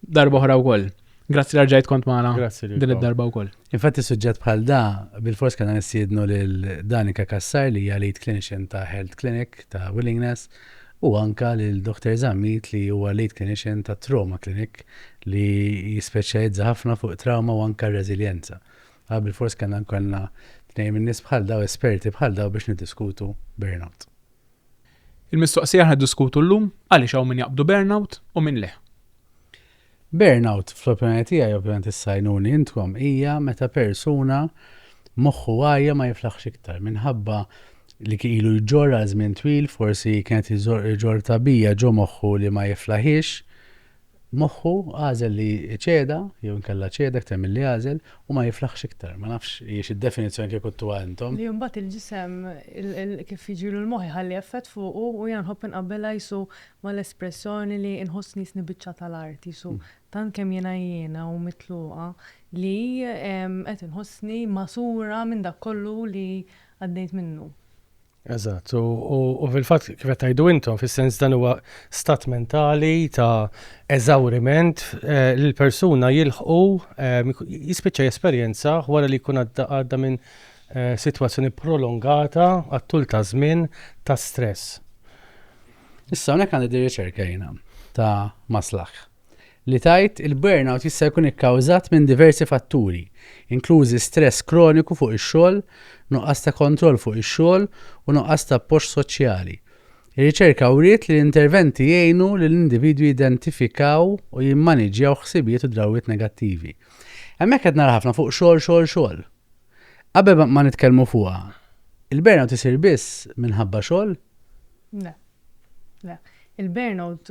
Darba oħra wkoll. Grazzi li rġajt kont magħna. Grazzi Din id-darba wkoll. Infatti suġġett bħal da, bil-fors kellna nissiednu lil Danika Kassar li hija lead clinician ta' Health Clinic ta' Willingness u anka lil Dr. Zammit li huwa lead clinician ta' Trauma Clinic li jispeċjalizza ħafna fuq trauma u anka reżiljenza. Għal bil-fors kellna nkollna tnejn min-nies bħal daw esperti bħal daw biex niddiskutu burnout. Il-mistoqsija aħna ddiskutu llum għaliex hawn min jaqbdu burnout u min le. Burnout fl-opinjoni tiegħi ovvjament issa għinuni intkom hija meta persuna moħħu għajja ma jiflaħx iktar minħabba li kien ilu jġorr għal żmien twil forsi kien qed iġorr tagħbija ġo moħħu li ma jiflaħiex Moħħu għażel li jċeda, jew inkella ċeda iktar milli għażel, u ma jiflaħx iktar. Ma nafx hijiex id-definizzjoni kieku ttuha intom. Li mbagħad il-ġisem, kif jiġilu l-moħħ iħalli effett fuqu, u jiena nħobb inqabbelha qisu mal-espressjoni li nħossni jisni biċċa tal-art, qisu tant kemm jiena għijjiena u mitluqa li qed inħossni magħsura minn dak kollu li għaddejt minnu. Eżatt, u fil-fatt kif qed tgħidu intom fis-sens dan huwa stat mentali ta' eżawriment eh, li l-persuna jilħqu eh, jispiċċa jesperjenza wara li jkun għadda minn eh, sitwazzjoni prolongata għat-tul ta' żmien ta' stress. Issa hawnhekk għandi riċerka jiena ta' maslaħ. li tgħid, il-burnout jista' jkun ikkawżat minn diversi fatturi, inklużi stress kroniku fuq ix-xogħol, nuqqas ta' kontroll fuq ix-xogħol u nuqqas ta' appoġġ soċjali. Ir-riċerka wriet li l-interventi jgħinu lill-individwi jidentifikaw u jimmaniġġjaw ħsibijiet u drawwiet negattivi. Hemmhekk qed nara ħafna fuq xogħol, xogħol, xogħol. Qabel ma nitkellmu fuqha, il-burnout isir biss minħabba xogħol? Le. Le. Il-burnout,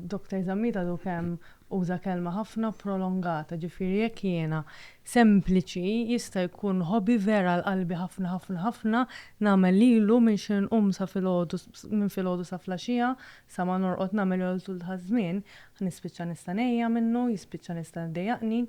Dr. Zammit għadu kemm uża kelma ħafna prolongata, ġifieri jekk jiena sempliċi jista' jkun hobby vera għal qalbi ħafna ħafna ħafna nagħmel lilu minn xi nqum sa filgħodu minn filgħodu sa flaxija sa ma norqod nagħmel għal tul taż-żmien nispiċċa nista' ngħejja minnu, jispiċċa nista' jdejjaqni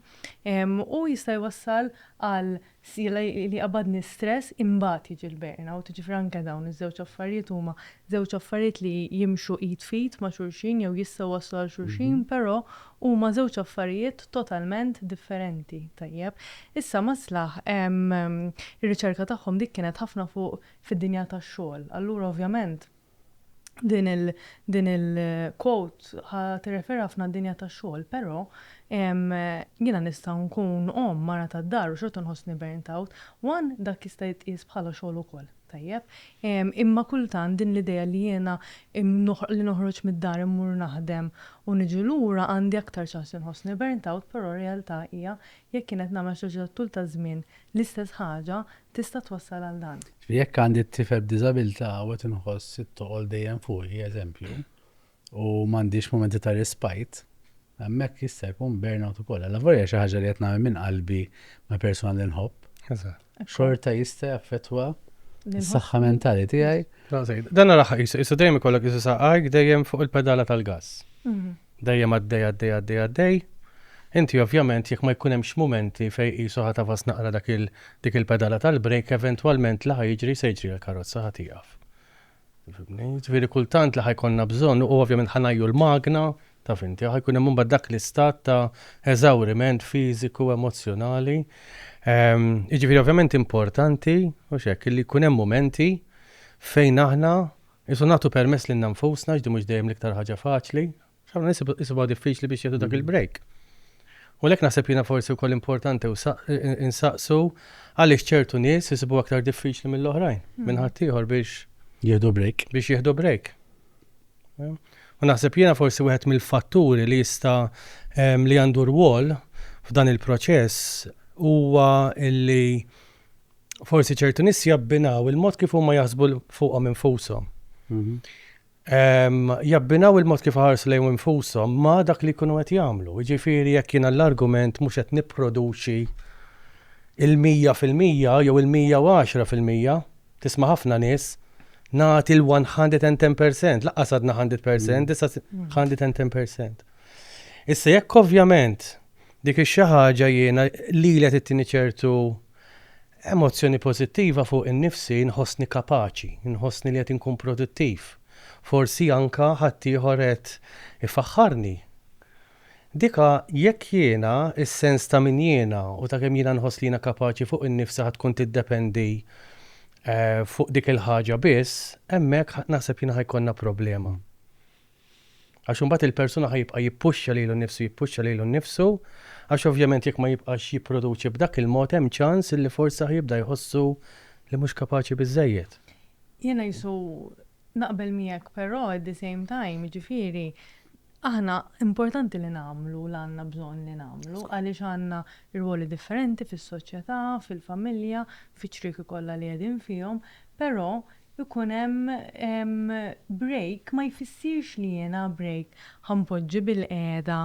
u jista' jwassal għal Sila li qabadni stress imbagħad jiġi l-burnout, jiġifieri anke dawn iż-żewġ affarijiet huma żewġ affarijiet li jimxu id f'id ma' xulxin jew jistgħu jwasslu għal xulxin però huma żewġ affarijiet totalment differenti. Tajjeb. Issa Maslaħ ir-riċerka tagħhom dik kienet ħafna fuq fid-dinja tax-xogħol. Allura ovvjament. din il din il quote ħa tirrefera ħafna għad-dinja tax-xogħol, però jiena nista' nkun omm, mara tad-dar u xorta nħossni burnt out. One, dak jista' jitqies bħala xogħol ukoll, tajjeb? Imma kultant din l-idea li jiena li noħroġ mid-dar immur naħdem u niġi lura għandi aktar ċans li nħossni burnt out, però r-realtà hija jekk jien qed nagħmel xi ħaġa tat-tul taż-żmien L-istess ħaġa tista' twassal għal dan. Ġifieri jekk għandi t-tifel b'diżabilità u qed inħoss it-toqol dejjem fuqi, eżempju, u m'għandix mumenti ta' respite, hemmhekk jista' jkun burnout ukoll. Allavolja xi ħaġa li qed nagħmel minn qalbi ma' persuna li nħobb, xorta jista' jaffettwa s-saħħa mentali tiegħi. Dan l-aħħar qisu dejjem ikollok qisu saqajk dejjem fuq il-pedala tal-gass. Dejjem għaddej għaddej għaddej għaddej. Inti ovvjament jekk ma jkun hemmx mumenti fejn qisu ħa tagħfas naqra dak il dik il-pedala tal-brejk eventwalment li ħa jiġri se jiġri għall-karozza ħa tieqaf. Tifhimni? Jiġifieri kultant li ħa jkollna bżonn u ovvjament ħa ngħajju l-magna, taf inti, ħa jkun hemm imbagħad dak l-istat ta' eżawriment fiżiku, emozzjonali. Jiġifieri ovvjament importanti, mhux hekk, li jkun hemm mumenti fejn aħna Isu nagħtu permess lilna nfusna għax din mhux dejjem l-iktar ħaġa faċli. X'ħafna nies isibuha diffiċli biex jieħdu dak il-break. U għalhekk naħseb jiena forsi wkoll importanti insaqsu għaliex ċertu nies isibuha aktar diffiċli mill-oħrajn, minn ħaddieħor biex jieħdu break. Biex jieħdu break. U naħseb jiena forsi wieħed mill-fatturi li jista' li għandu rwol f'dan il-proċess huwa illi forsi ċertu nies jabbinaw il-mod kif huma jaħsbu fuqhom infushom. Mhm. Jabbinaw il-mod kif ħarsu lejn infushom ma dak li jkunu qed jagħmlu. Ġifieri jekk jiena l-argument mhux qed nipproduċi il-100 fil-mija jew il-110 fil-mija, tisma' ħafna nies, nagħti l-110%, laqqas għadna 100%, issa 110%. Issa jekk ovvjament dik ix-xi ħaġa jiena li qed ittini ċertu Emozzjoni pożittiva fuq innifsi nħossni kapaċi, nħossni li qed inkun produttiv, forsi anke ħaddieħor qed ifaħħarni. Dika jekk jiena, is-sens ta' min jiena u ta' kemm jiena nħoss li jiena kapaċi fuq innifsi ħa tkun tiddependi fuq dik il-ħaġa biss, hemmhekk naħseb jiena ħa jkollna problema. Għax imbagħad il-persuna ħa jibqa' jippuxxa lilu nnifsu, jippuxxa lilu nnifsu, għax ovvjament jekk ma jibqax jipproduċi b'dak il-mod hemm ċans li forsi ħa jibda jħossu li mhux kapaċi biżżejjed. Jiena qisu naqbel miegħek però at the same time, jiġifieri aħna importanti li nagħmlu l-għandna bżonn li nagħmlu għaliex għandna rwoli differenti fis-soċjetà, fil-familja, fiċ-ċrieki kollha li qegħdin fihom, però ikun hemm break ma jfissirx li jiena break ħa npoġġi bilqiegħda,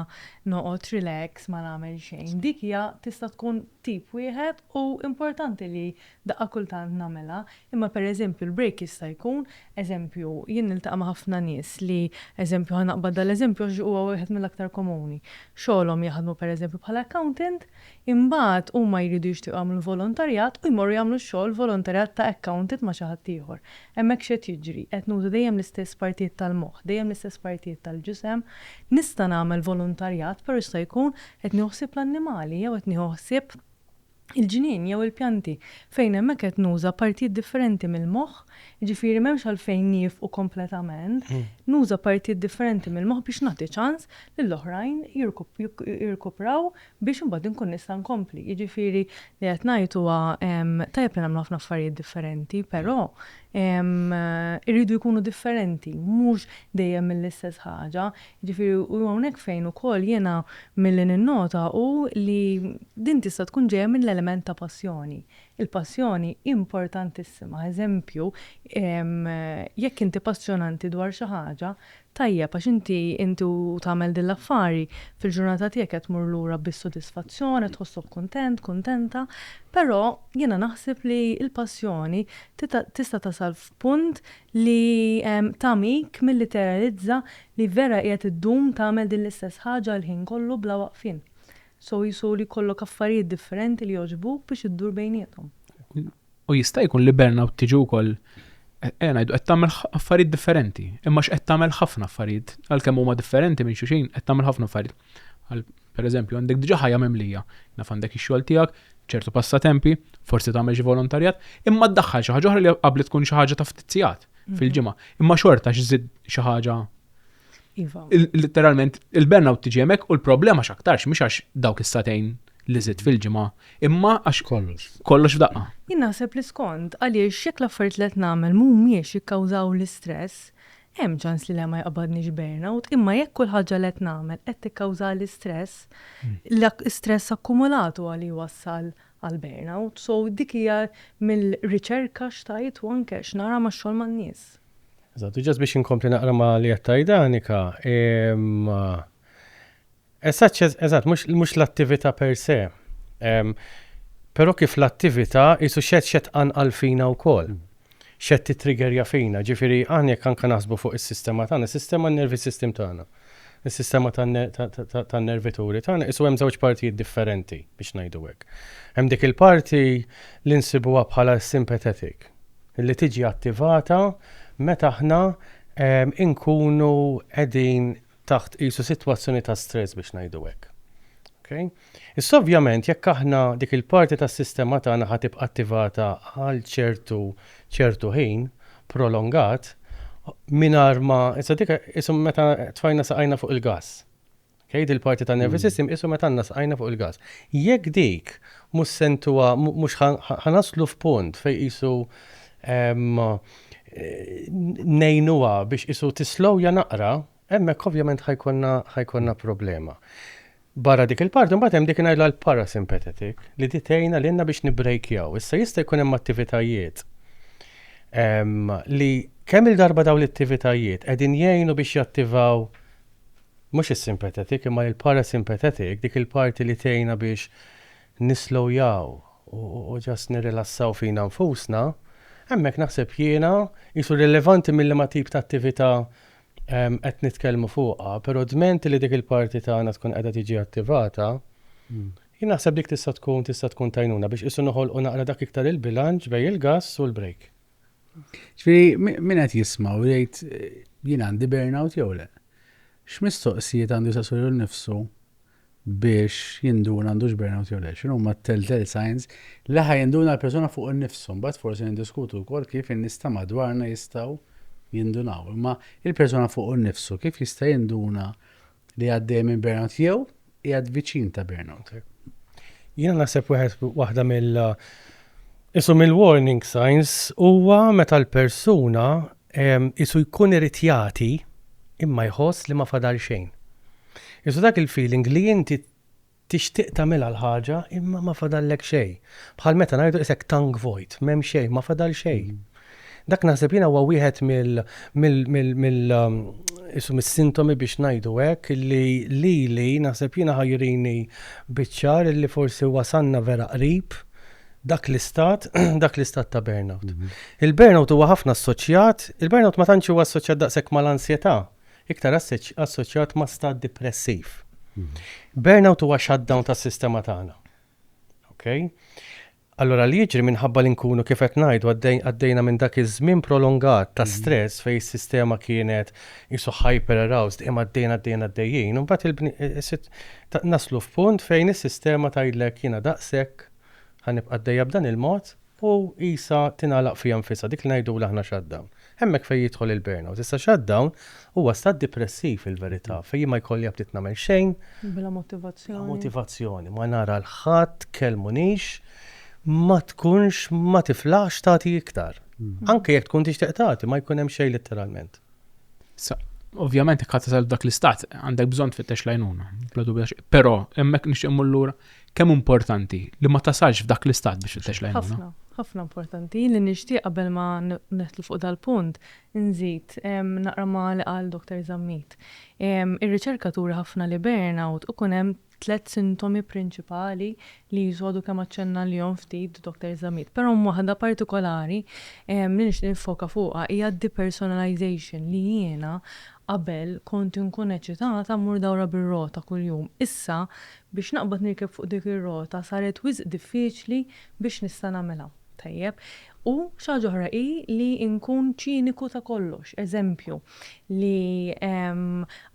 noqgħod relax ma nagħmel xejn. Dik hija tista' tkun tip wieħed u importanti li daqqa kultant nagħmilha. Imma pereżempju l-break jista' jkun, eżempju, jien niltaqa' ma' ħafna nies li, eżempju, ħa naqbad dal-eżempju għax huwa wieħed mill-aktar komuni, xogħolhom jaħdmu pereżempju bħala accountant, Imbagħad huma jridu jixtiequ jagħmlu volontarjat u jmorru jagħmlu x-xogħol volontarjat ta' accountant ma' xi ħadd ieħor. Hemmhekk x'qed jiġri? Qed nuża dejjem l-istess partijiet tal-moħħ, dejjem l-istess partijiet tal-ġisem. Nista' nagħmel volontarjat, però jista' jkun qed nieħu ħsieb l-annimali jew qed nieħu ħsieb il-ġnien jew il-pjanti, fejn hemmhekk qed nuża partijiet differenti mill-moħħ, jiġifieri m'hemmx għalfejn niefqu kompletament. Nuża partijiet differenti mill-moħħ biex nagħti ċans lill-oħrajn jirkupraw biex imbagħad inkun nista' nkompli. Jiġifieri li qed ngħid huwa tajjeb li nagħmlu ħafna affarijiet differenti, però jridu jkunu differenti, mhux dejjem l-istess ħaġa. Jiġifieri u hawnhekk fejn ukoll jiena milli ninnota hu li din tista' tkun ġejja mill-element ta' passjoni. Il-passjoni importantissima, eżempju, jekk inti passjonanti dwar xi ħaġa, Tajjeb, għax inti, inti u tagħmel din l-affari, fil-ġurnata tiegħek qed tmur lura bis-sodisfazzjon, qed tħossok kuntent, kuntenta, però jiena naħseb li l-passjoni tista' tasal f'punt li tagħmik milli teralizza li vera qiegħed iddum tagħmel din l-istess ħaġa l-ħin kollu bla waqfien. So qisu li jkollok affarijiet differenti li jogħġbuk biex iddur bejniethom. U jista' jkun li burnout tiġi wkoll ejja ngħidu qed tagħmel affarijiet differenti, imma x'qed tagħmel ħafna affarijiet, għalkemm huma differenti minn xulxin, qed tagħmel ħafna affarijiet. Għal pereżempju għandek diġà ħajja mimlija, naf għandek ix-xogħol tiegħek, ċertu passatempi, forsi tagħmel xi volontarjat, imma ddaħħal xi ħaġa oħra li qabli tkun xi ħaġa ta' ftit sigħat mhm. fil-ġimgħa. Imma xorta x'żid xi ħaġa Iva. Literalment, il-burnout tiġi hemmhekk u l-problema x'aktarx mhux għax dawk is-satejn li żitt fil-ġimgħa, imma għax kollox. Kollox f'daqqa. Jien naħseb li skont għaliex jekk l-affarijiet li qed nagħmel mhumiex jikkawżaw l-istress, hemm ċans li le ma jaqbadnix burnout, imma jekk kull ħaġa li qed nagħmel qed tikkawżali stress, l-istress akkumulat huwa li jwassal għal burnout. So dik hija mill-riċerka x'tgħid u anke x'nara max-xogħol man-nies. Eżatt, u ġast biex inkompli naqra ma li qed tgħid Annika, ehm, eżatt, eżatt, mhux l-attività per se. Ehm, però kif l-attività jisu xed xed anqal fina wkoll. Xed titrigerja fina, ġifieri aħna jekk anke naħsbu fuq is-sistema tagħna, sistema nervi system tagħna. Is-sistema tan-nervituri tagħna qisu hemm żewġ partijiet differenti, biex ngħidu hekk. Hemm dik il-parti li nsibuha bħala s-sympathetic, li tiġi attivata meta aħna nkunu qegħdin taħt qisu sitwazzjoni ta' stress, biex ngħidu hekk. Issa ovvjament jekk aħna dik il-parti tas-sistema tagħna ħa tibqa' attivata għal ċertu ċertu ħin prolongat mingħajr ma issa dik qisu meta tfajna saqajna fuq il-gass. Okay? Dil-parti tan-nervous system qisu meta għandna saqajna fuq il-gass. Jekk dik mhux sentuha mhux ħanaslu f'punt fejn qisu ngħinuha biex qisu tislowja naqra, Hemmhekk ovvjament ħa jkollna ħa jkollna problema. Barra dik il-parti mbagħad hemm dik ngħidla l-parasympathetic li di tgħinna lilna biex nibbrejkjaw. Issa jista' jkun hemm attivitajiet ehm, li kemm il-darba dawn l-attivitajiet qegħdin jgħinu biex jattivaw mhux is-sympathetic imma l-parasympathetic dik il-parti li tgħinna biex nislowjaw u ġast nirrilassaw fina nfusna, hemmhekk naħseb jiena jisu rilevanti mill-ma tip ta' attività qed nitkellmu fuqha, però dment li dik il-parti tagħna tkun qiegħda tiġi attivata, jien naħseb dik tista' tkun tista' tkun t'għajnuna biex qisu noħolqu naqra dak iktar il-bilanċ bejn il-gass u l-break. Ġifieri min qed jisma' u jgħid jien għandi burnout jew le, x'mistoqsijiet għandu jsaqsu lilu nnifsu biex jinduna għandux burnout jew le. X'inhuma t-telltale signs li ħa jinduna l-persuna fuq innifsu? Mbagħad forsi niddiskutu wkoll kif in-nies ta' madwarna jistgħu jindunaw. Imma il-persuna fuq innifsu kif jista' jinduna li għaddej minn burnout jew qiegħed viċin ta' burnout? Jiena naħseb wieħed waħda mill Isu mill-warning signs huwa meta l-persuna Qisu jkun irid jagħti imma jħoss li ma fadal xejn. Qisu dak il-feeling li inti tixtieq tagħmilha l-ħaġa imma ma fadallek xejn. Bħal meta ngħidu qisek tank vojt, m'hemm xejn, ma fadal xejn. Dak naħseb jiena huwa wieħed mill mill qisu mis-sintomi biex ngħidu hekk li lili naħseb jiena ħa jurini biċ-ċar li forsi wasalna vera qrib dak l-istat, dak l-istat ta' burnout. Mhm. Il-burnout huwa ħafna assoċjat, il-burnout ma tantx huwa assoċjat daqshekk mal-ansjetà, iktar assoċjat ma' stat depressiv. Mhm. Burnout huwa shutdown tas-sistema tagħna. Okay? Allora li jiġri minħabba li nkunu kif qed ngħidu għaddejna minn dak iż-żmien prolongat ta' mhm. stress fejn is-sistema kienet qisu hyper aroused, imma għaddejn għaddejn għaddejjin, imbagħad il-bni is-sit naslu f'punt fejn is-sistema tgħidlek jiena daqshekk, ħa nibqa' għaddejja b'dan il-mod, u qisha tingħalaq fiha nfisha, dik li ngħidulu aħna shutdown. Hemmhekk fejn jidħol il-burnout. Issa shutdown huwa stat dipressiv fil-verità, fejn jien ma jkollja bdiet nagħmel xejn, Bla motivazzjoni. bla motivazzjoni, ma nara 'l ħadd, tkellmunix, ma tkunx, ma tiflaħx tagħti iktar. Anke jekk tkun tixtieq tagħti ma jkun hemm xejn litteralment. Ovvjament jekk ħadd tasal f'dak l-istat għandek bżonn tfittex l-għajnuna, bla dubju xejn. Però hemmhekk nixtieq mmur lura kemm importanti li ma tasalx f'dak l-istat biex tfittex l-għajnuna. Ħafna, ħafna importanti. Jien li nixtieq qabel ma nidħlu fuq dal-punt nżid naqra ma' li qal Dottor Zammit. Ir-riċerka turi ħafna li burnout ikun hemm Tliet sintomi prinċipali li Ġesù għadu kemm aċċenna għalihom ftit Dottor Zammit, però hemm waħda partikolari li nixtieq niffoka fuqha, hija d-depersonalization, li jiena qabel kont inkun eċitata mmur dawra bir-rota kuljum, issa biex naqbad nirkeb fuq dik ir-rota saret wisq diffiċli biex nista' nagħmilha. Tajjeb. U xi ħaġa oħra hi li nkun ċiniku ta' kollox. Eżempju, li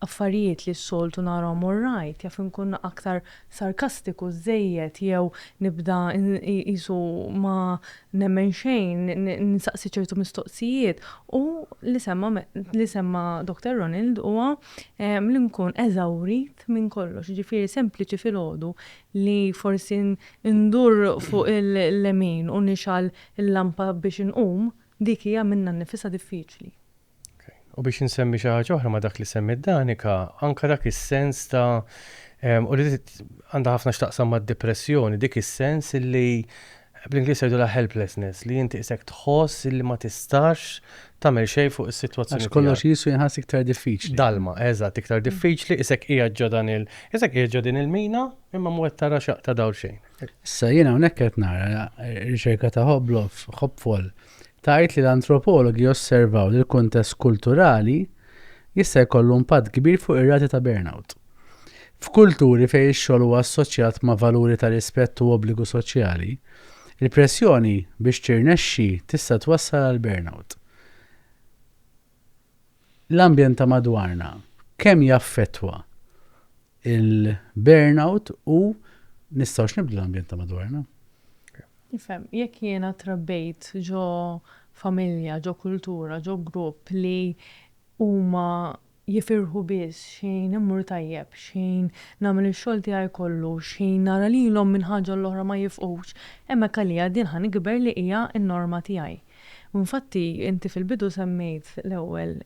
affarijiet li s-soltu narahom orrajt, jaf inkun aktar sarkastiku żżejjed jew nibda qisu ma nemmen xejn, nsaqsi ċertu mistoqsijiet. U li semma li semma Doctor Ronald huwa li nkun eżawrit minn kollox. Jiġifieri sempliċi filgħodu li forsi ndur fuq il-lemin u nixgħal il-lampa biex inqum, dik hija minnha nnifisha diffiċli. U biex insemmi xi ħaġa oħra ma' dak li semmiet Danica, anke dak is-sens ta' u li għandha ħafna x'taqsam mad-dipressjoni, dik is-sens li Bl-Ingliż jgħidulha helplessness, li inti qisek tħoss illi ma tistax tagħmel xejn fuq is-sitwazzjoni tiegħek. Għax kollox qisu jinħass iktar diffiċli. Dalma, eżatt, iktar diffiċli, qisek qiegħed ġo dan il-, qisek qiegħed ġo din il-mina, imma mhu qed tara xaqta dawl xejn. Issa jiena hawnhekk qed nara riċerka ta' Hobloff, Hopfol, tgħid li l-antropologi osservaw li l-kuntest kulturali jista' jkollu impatt kbir fuq ir-rati ta' burnout. F'kulturi fejn ix-xogħol huwa assoċjat ma' valuri ta' rispett u obbligu soċjali, il-pressjoni biex tirnexxi tista' twassal għal burnout. L-ambjent ta' madwarna kemm jaffettwa l-burnout u nistgħux nibdlu l-ambjent ta' madwarna? Nifhem. Jekk jiena trabbejt ġo familja, ġo kultura, ġo grupp li huma jifirħu biss x'ħin immur tajjeb, x'ħin nagħmel ix-xogħol tiegħi kollu, x'ħin nara lilhom minn ħaġa għall-oħra ma jifqux, hemmhekk għalija din ħa nikber li hija n-norma tiegħi. U infatti, inti fil-bidu semmejt l-ewwel,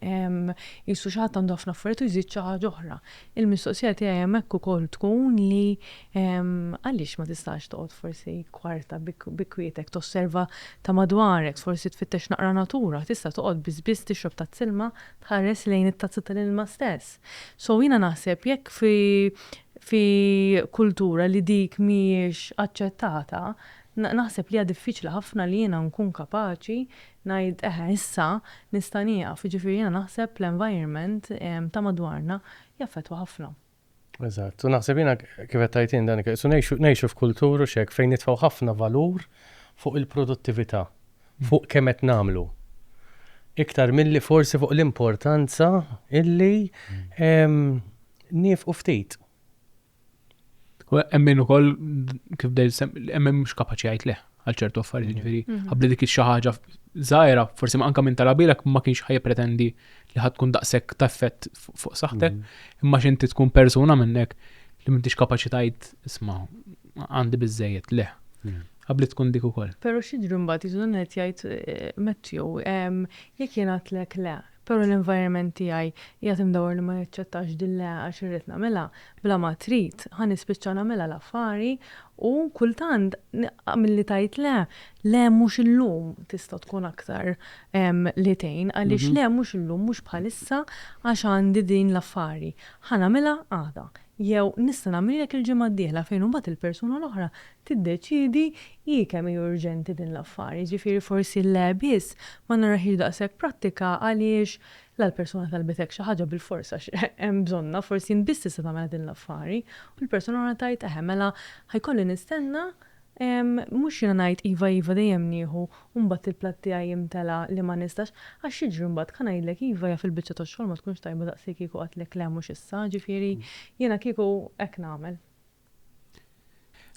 qisu xi ħadd għandu ħafna affarijiet u jżid xi ħaġa oħra. Il-mistoqsija tiegħi hemmhekk ukoll tkun li għaliex ma tistax toqgħod forsi kwarta bi kwietek tosserva ta' madwarek, forsi tfittex naqra natura, tista' toqgħod biss biss tixrob tazz ilma, Tħares lejn it-tazza tal-ilma stess. So jiena naħseb jekk fi fi kultura li dik mhijiex aċċettata, naħseb li hija diffiċli ħafna li jiena nkun kapaċi ngħid eħe issa nista' nieqaf. Jiġifieri jiena naħseb l-environment ta' madwarna jaffettwa ħafna. Eżatt, u naħseb jiena kif qed tgħid int Danika, su ngħixu ngħixu f'kultur u x'hekk fejn nitfgħu ħafna valur fuq il-produttività, fuq kemm qed nagħmlu. Iktar milli forsi fuq l-importanza illi niefqu ftit. U hemm min ukoll kif bdejt sem- hemm min mhux kapaċi jgħid leh. għal ċertu affarijiet, mhm. ġifieri mhm. ħabli dik xi ħaġa żgħira, forsi anke minn talabilek ma kienx ħaj pretendi li ħad tkun daqshekk ta' effett fuq saħħtek, mhm. imma x'inti tkun persuna minnek li m'intix kapaċi tgħid isma' għandi biżejjed le. Għabli tkun dik ukoll. Però xi ġrimbat jiżun qed jgħid eh, Matthew, jekk jien għatlek le, Però l-environment tiegħi qiegħed imdawwar li ma jaċċettax din l-'e' għax irrid nagħmilha bla ma trid, ħa nispiċċa nagħmilha l-affari u kultant milli tgħid le, le mhux illum tista' tkun aktar li tgħin għaliex le mhux illum mhux bħalissa għax għandi din l-affari, ħa nagħmilha għada. Jew, nista' nagħmlilek il-ġimgħa d-dieħla fejn imbagħad il-persuna l-oħra tiddeċiedi hi kemm hi urġenti din l-affar. Jiġifieri forsi le biss ma narahiex daqshekk prattika għaliex la l-persuna talbetek xi ħaġa bilfors għax hemm bżonnha, forsi int biss tista' tagħmilha din l-affari, u l-persuna l-oħra tgħid eħe mela ħa jkolli nistenna Ehm, mhux jiena ngħid iva iva dejjem nieħu u mbagħad il-platt tiegħi jimtela li ma nistax, għax x'jiġri mbagħad ka ngħidlek iva jaf il-biċċa tax-xogħol ma tkunx tajba daqs li kieku għedtlek le mhux issa, ġifieri jiena kieku hekk nagħmel.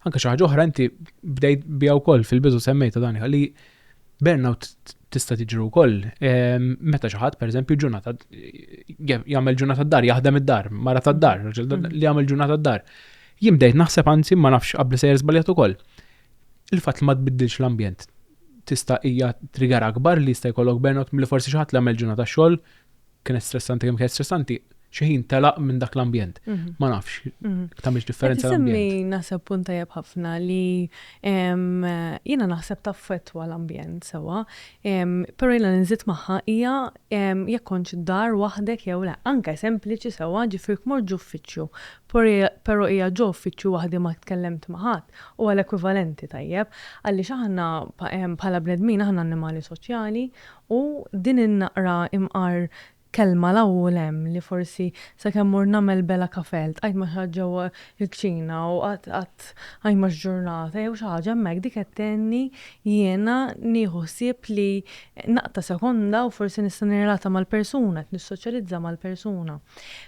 Anke xi ħaġa oħra inti bdejt biha wkoll fil-bidu semmejta dan li burnout tista' tiġri wkoll ehm, meta xi ħadd pereżempju ġurnata jagħmel ġurnata d-dar, jaħdem id-dar, mara tad-dar, mm. li jagħmel ġurnata d-dar. Jien bdejt naħseb anzi ma nafx qabli sejjer żbaljat ukoll. Il-fatt li ma tbiddilx l-ambjent tista' hija trigger akbar li jista' jkollok burnout milli forsi xi ħadd li għamel ġurnata xogħol kienet stressanti kemm kienet stressanti xi ħin telaq minn dak l-ambjent. Mhm. Ma nafx, mhm. tagħmilx differenza l-ambjent. naħseb punt tajjeb ħafna li jiena naħseb taffettwa l-ambjent sewwa, però jiena nżid magħha hija jekk kontx dar waħdek jew le, anke sempliċi sewwa ġifier kmorġu uffiċċju Però hija ġo uffiċċju waħdi ma tkellemt ma' ħadd, huwa l-ekwivalenti tajjeb, għaliex aħna bħala bnedmin aħna annimali soċjali u din in-naqra imqar kelma 'l hawn u 'l hemm li forsi sakemm mort nagħmel bela kafè ltqajt ma' xi ħadd ġewwa l-kċina u qatt qatt ajma x'ġurnata jew xi ħaġa hemmhekk dik qed tgħinni jiena nieħu ħsieb li naqta' sekonda u forsi nista' nirrelata mal-persuna, qed nissoċjalizza mal-persuna.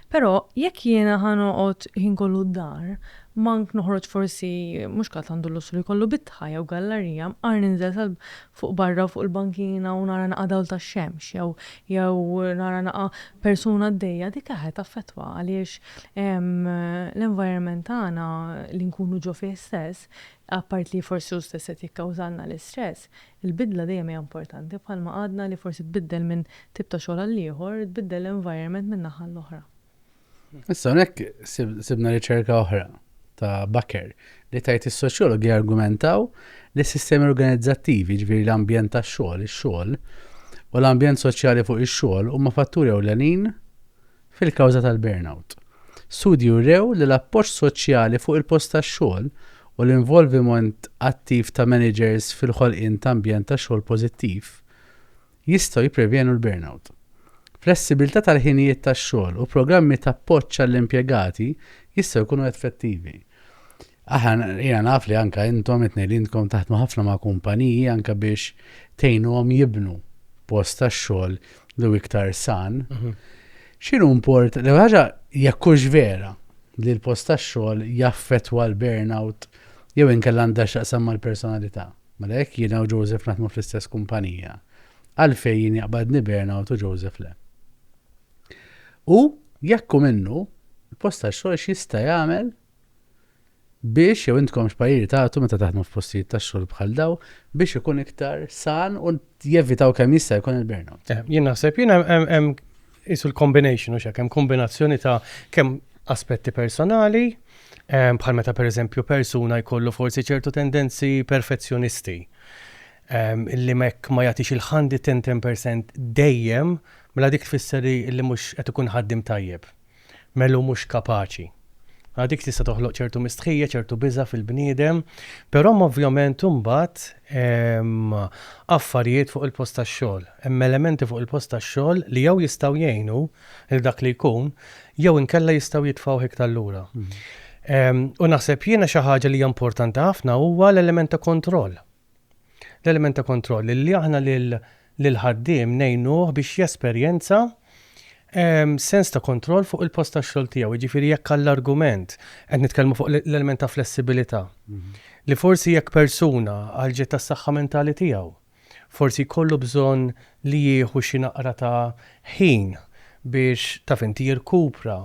Però jekk jiena ħa noqgħod ħin kollu d-dar, mank noħroġ forsi mhux kulħadd għandu l-lussru jkollu bitħa jew gallarija, mqar ninżel sal fuq barra fuq il-bankina u nara naqa' dawl tax-xemx jew jew nara naqa' persuna għaddejja dik aħe taffettwa għaliex l-environment tagħna li nkunu ġo fih stess, apart li forsi hu stess qed jikkawżalna l-istress, Il-bidla dejjem hija importanti, bħalma għadna li forsi tbiddel minn tip ta' xogħol għal ieħor, tbiddel l-environment minn naħa għal oħra. Issa hawnhekk sibna riċerka oħra ta' Bakker li tajt is-soċjologi jargumentaw li s-sistemi organizzattivi, ġviri l-ambjent ta' xogħol, ix-xogħol, u l-ambjent soċjali fuq ix-xogħol huma fatturi ewlenin fil-kawża tal-burnout. Studji wrew li l-appoġġ soċjali fuq il-post tax-xogħol u l-involviment attiv ta' maniġers fil-ħolqien ta' ambjent ta' xogħol pożittiv jistgħu jipprevjenu l-burnout. Flessibilità tal-ħinijiet tax-xogħol u programmi t'appoġġ għall-impjegati jistgħu jkunu effettivi. Aħna, jiena naf li anke intom it-tnejn li intkom taħdmu ħafna ma' kumpaniji anke biex tgħinuhom jibnu post tax-xogħol li hu iktar san. X'inhu import, l-ewwel ħaġa jekk hux vera li l-post tax-xogħol jaffettwa l-burnout jew inkella għandha x'taqsam mal-personalità. Mela jekk jiena u Joseph naħdmu fl-istess kumpanija, għalfejn jien jaqbadni burnout u Joseph le? U jekk hu minnu, il-post tax-xogħol x'jista' jagħmel biex jew intkom x'pariri tagħtu meta taħdmu f'postijiet tax-xogħol bħal daw biex ikun iktar san u jevitaw kemm jista' jkun il-burnout. Eh, jien naħseb jien hemm isu l-combination u xek hemm kombinazzjoni ta' kemm aspetti personali eh, bħal meta pereżempju persuna jkollu forsi ċertu tendenzi perfezzjonisti ehm, li mekk ma jagħtix il-ħandi 10% dejjem mela dik tfisser li mhux qed ikun ħaddim tajjeb. Melu mhux kapaċi. Mela dik tista' toħloq ċertu mistħija, ċertu biża' fil-bniedem, però hemm ovvjament imbagħad affarijiet fuq il-post tax-xogħol. Hemm elementi fuq il-post tax-xogħol li jew jistgħu jgħinu lil dak li jkun jew inkella jistgħu jitfgħuh iktar lura. U naħseb jiena xi ħaġa li hija importanti ħafna huwa l-element ta' kontroll. l-element ta' kontroll li aħna lill-ħaddiem ngħinuh biex jesperjenza sens ta' kontroll fuq il-post tax-xogħol tiegħu. Jiġifieri jekk għall-argument qed nitkellmu fuq l-element ta' flessibilità, li forsi jekk persuna għal ġid tas-saħħa mentali tiegħu, forsi jkollu bżonn li jieħu xi naqra ta' ħin biex, taf int, jirkupra,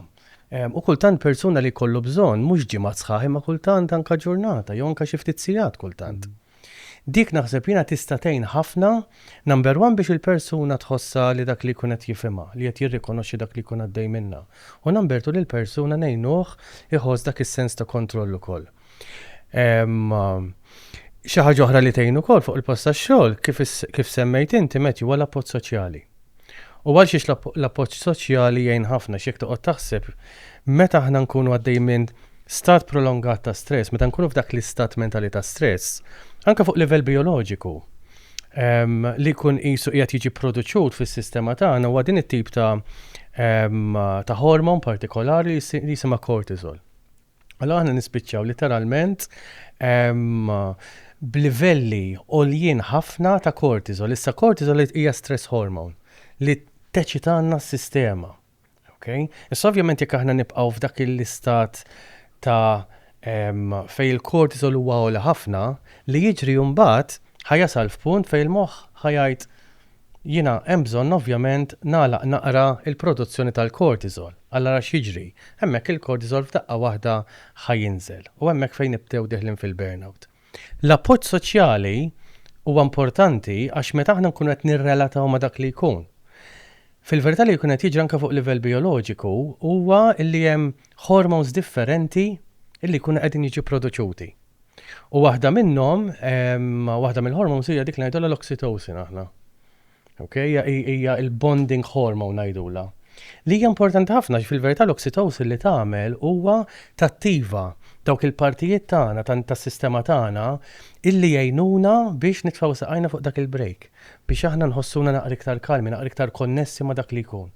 U kultant persuna li jkollu bżonn mhux ġimgħat sħaħ imma kultant anke ġurnata jew anke xi ftit sigħat kultant. Dik naħseb jiena tista' tgħin ħafna, number one biex il-persuna tħossha li dak li jkun qed jifhimha, li qed jirrikonoxxi dak li jkun għaddej minnha. U number two lill-persuna ngħinuh iħoss dak is-sens ta' kontroll ukoll. Xi ħaġa oħra li tgħin ukoll fuq il-post tax-xogħol kif semmejt inti meti huwa l-appoġġ soċjali. U għal xiex l-appoġġ soċjali jgħin ħafna x'jekk toqgħod taħseb meta aħna nkunu għaddej minn stat prolongat ta' stress, meta nkunu f'dak l-istat mentali ta' stress, anke fuq livell bioloġiku li kun qisu qiegħed jiġi produċut fis-sistema tagħna huwa din it-tip ta' ta' hormon partikolari li jisimha cortisol. Allora aħna nispiċċaw literalment b'livelli għoljien ħafna ta' kortizol. Issa kortizol hija stress hormone li teċitanna s-sistema. Okay? Issa ovvjament jekk aħna nibqgħu f'dak l-istat ta' fej il-kortizol huwa għola ħafna li jiġri mbagħad ħajasal f'punt fej il-moħħ ħajajt Jiena hemm bżonn ovvjament nagħlaq naqra l-produzzjoni tal-cortisol. Alla ara x'jiġri, hemmhekk il-cortisol f'daqqa waħda ħa jinżel u hemmhekk fejn nibdew deħlin fil-burnout. L-appoġġ soċjali huwa importanti għax meta aħna nkunu qed nirrelataw ma' dak li jkun. Fil-verità li jkun qed jiġri anke fuq livell bijoloġiku huwa li hemm hormones differenti li jkunu qegħdin jiġu produċuti. U waħda minnhom, waħda mill-hormones hija dik ngħidulha l-oxytocin aħna. Okay? Hija il-bonding hormone ngħidulha. Li hija importanti ħafna fil-verità l-oxytocin li tagħmel huwa tattiva dawk il-partijiet tagħna tas-sistema tagħna illi jgħinuna biex nitfgħu saqajna fuq dak il-break, biex aħna nħossuna naqra iktar kalmi, naqra iktar konnessi ma' dak li jkun.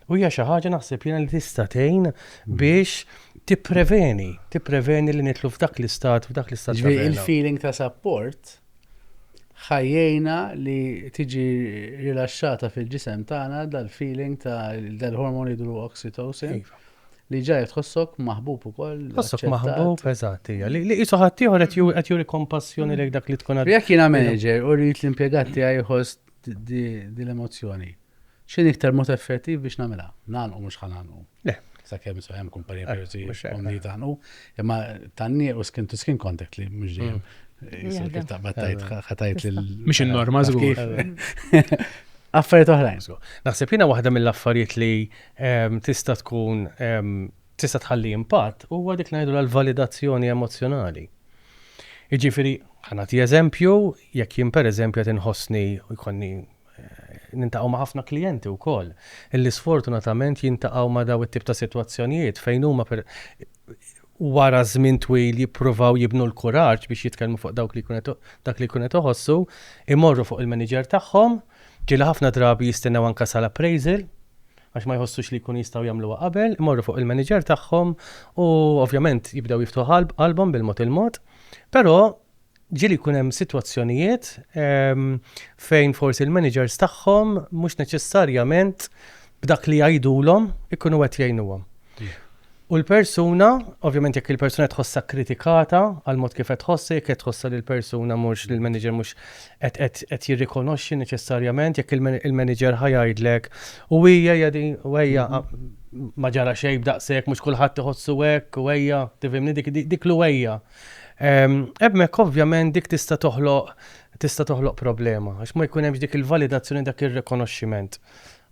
U hija xi ħaġa naħseb jiena li tista' tgħin mm. biex tippreveni, tippreveni li nitlu f'dak l-istat, f'dak l-istat. Ġifieri il-feeling ta' support ħajjejna li tiġi rilaxxata fil-ġisem tagħna dal-feeling ta' dal-hormon jidru oxytocin iva. li ġaj tħossok maħbub ukoll. Tħossok maħbub, eżatt, hija. Li qisu ħaddieħor qed juri kompassjoni lejk dak li tkun għad. Jekk jiena manager u rrid l-impjegat tiegħi jħoss din l-emozzjoni. X'inhi iktar mod effettiv biex nagħmilha? Nagħlqu mhux ħa nagħlqu. Le. Sakemm so hemm kumpanija eh, privacy komni eh. tagħlqu, imma tanni u skin to skin contact li mhux dejjem. Mhux in-norma żgur. Affarijiet oħrajn. Naħseb jiena waħda mill-affarijiet li ehm, tista' tkun ehm, tista' tħalli impatt huwa dik li ngħidulha l-validazzjoni emozzjonali. Jiġifieri, ħa nagħti eżempju, jekk jien pereżempju qed inħossni u jkollni niltaqgħu ma' ħafna klijenti wkoll illi sfortunatament jiltaqgħu ma' dawn it-tip ta' sitwazzjonijiet fejn huma wara żmien twil jippruvaw jibnu l-kuraġġ biex jitkellmu fuq dawk li jkun qed dak li jkun qed iħossu, imorru fuq il-manager tagħhom, ġieli ħafna drabi jistennew anke sal-appraisal, għax ma jħossux li jkunu jistgħu jagħmluha qabel, imorru fuq il-manager tagħhom u ovvjament jibdew jiftħu qalbhom bil-mod il-mod. Però ġieli jkun hemm sitwazzjonijiet ehm, fejn forsi l-managers tagħhom mhux neċessarjament b'dak li jgħidulhom ikunu qed jgħinuhom. U l-persuna, ovvjament jekk il-persuna qed tħossha kkritikata għal mod kif qed tħossha, jekk qed tħossha li l-persuna mhux li l-manager mhux qed qed qed jirrikonoxxi neċessarjament, jekk il-manager ħa jgħidlek u hija hija din u ejja ma ġara xejn b'daqshekk mhux kulħadd iħossu hekk u ejja tifhimni dik dik l ejja. Hemmhekk ovvjament dik tista' toħloq tista' toħloq problema għax ma jkun hemmx dik il-validazzjoni dak ir-rikonoxximent.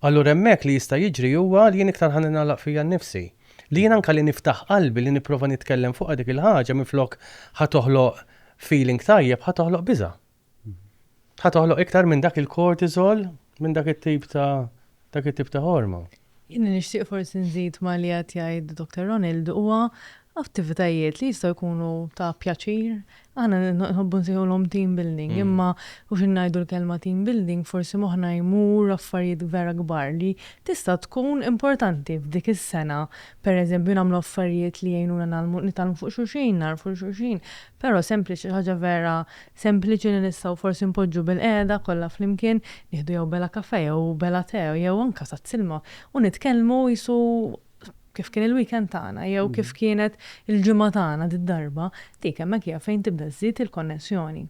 Allura hemmhekk li jista' jiġri huwa li jien iktar ħa ningħalaq fija nnifsi. Li jien anke li niftaħ qalbi li nipprova nitkellem fuqha dik il-ħaġa minflok ħa toħloq feeling tajjeb ħa toħloq biża'. Ħa toħloq iktar minn dak il-cortisol, minn dak it-tip ta' dak it-tip ta' ħorma. Jien nixtieq forsi nżid ma' li qed jgħid Doctor Ronald huwa attivitajiet li jistgħu jkunu ta' pjaċir, Aħna nħobbu nsejħulhom team building imma u xi ngħidu l-kelma team building forsi moħħna jmur affarijiet vera kbar li tista' tkun importanti f'dik is-sena. Pereżempju nagħmlu affarijiet li jgħinuna ngħallmu nitgħallmu fuq xulxin, nagħrfu xulxin. Però sempliċi xi ħaġa vera sempliċi li nistgħu forsi npoġġu bilqiegħda kollha flimkien, nieħdu jew bela kafè jew bela tè jew anke tazz ilma u nitkellmu qisu kif kien il-weekend tagħna jew kif kienet il-ġimgħa tagħna did-darba, dik hemmhekk hija fejn tibda żżid il-konnessjoni.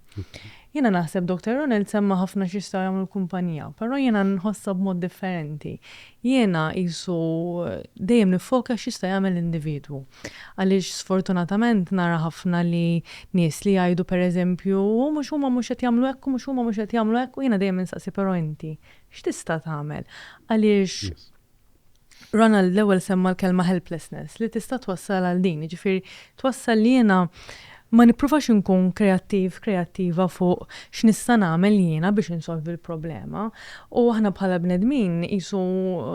Jiena naħseb Doctor Ronald semma ħafna x'jistgħu jagħmlu l-kumpanija, però jiena nħossha b'mod differenti. Jiena qisu dejjem niffoka x'jista' jagħmel l-individwu. Għaliex sfortunatament nara ħafna li nies li jgħidu pereżempju hu mhux huma mhux qed jagħmlu hekk u mhux huma mhux qed jagħmlu hekk u jiena dejjem insaqsi però inti x'tista' tagħmel? Għaliex Ronald l-ewwel semma l-kelma helplessness li tista' twassal għal din, jiġifieri twassal li jiena ma nippruvax inkun kreattiv, kreattiva fuq x'nista' nagħmel jiena biex insolvi l-problema. U aħna bħala bnedmin qisu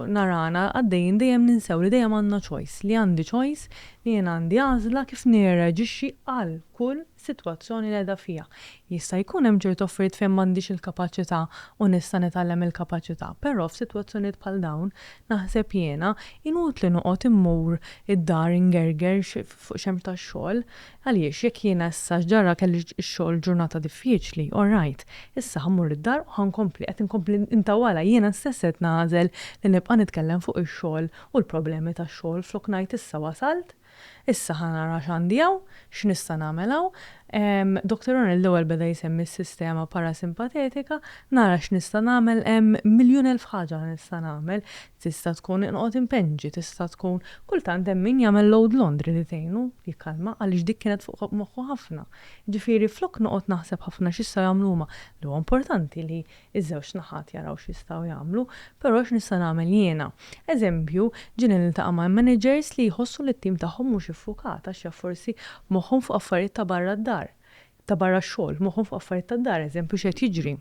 narana għaddejjin dejjem ninsew li dejjem għandna choice, li għandi choice, li jiena għandi għażla kif nirreaġixxi għal kull sitwazzjoni li qiegħda fiha. Jista' jkun hemm ċertu affarijiet fejn m'għandix il-kapaċità u nista' nitgħallem il-kapaċità, però f'sitwazzjonijiet bħal dawn, naħseb jiena, inutli noqgħod immur id-dar ingerger fuq xemx tax-xogħol. Għaliex, jekk jiena issa x'ġara kelli x-xogħol ġurnata diffiċli, all right, issa ħa mmur id-dar u ħa nkompli, qed inkompli ntawwalha, jiena stess qed nagħżel li nibqa' nitkellem fuq ix-xogħol u l-problemi tax-xogħol flok ngħid issa wasalt, Issa ħa nara x'għandi hawn, x'nista' nagħmel hawn. Doctor O'Neill l-ewwel beda jsemmi s-sistema parasimpatetika, nara x'nista' nagħmel, hemm miljun elf ħaġa li nista' nagħmel, tista' tkun inqgħod inpenġi, tista' tkun, kultant hemm min jagħmel load laundry li tgħinu jikkalma għaliex dik kienet fuq moħħu ħafna. Jiġifieri flok noqgħod naħseb ħafna x'jistgħu jagħmlu huma, li huwa importanti li Iż-żewġ naħat jaraw x'jistgħu jagħmlu, però x'nista' nagħmel jiena? Eżempju, ġieli niltaqa' ma' managers li jħossu li t-tim tagħhom mhux iffukat għax jaf forsi moħħhom fuq affarijiet ta' barra d-dar, ta' barra x-xogħol, moħħhom fuq affarijiet tad-dar, eżempju x'qed jiġri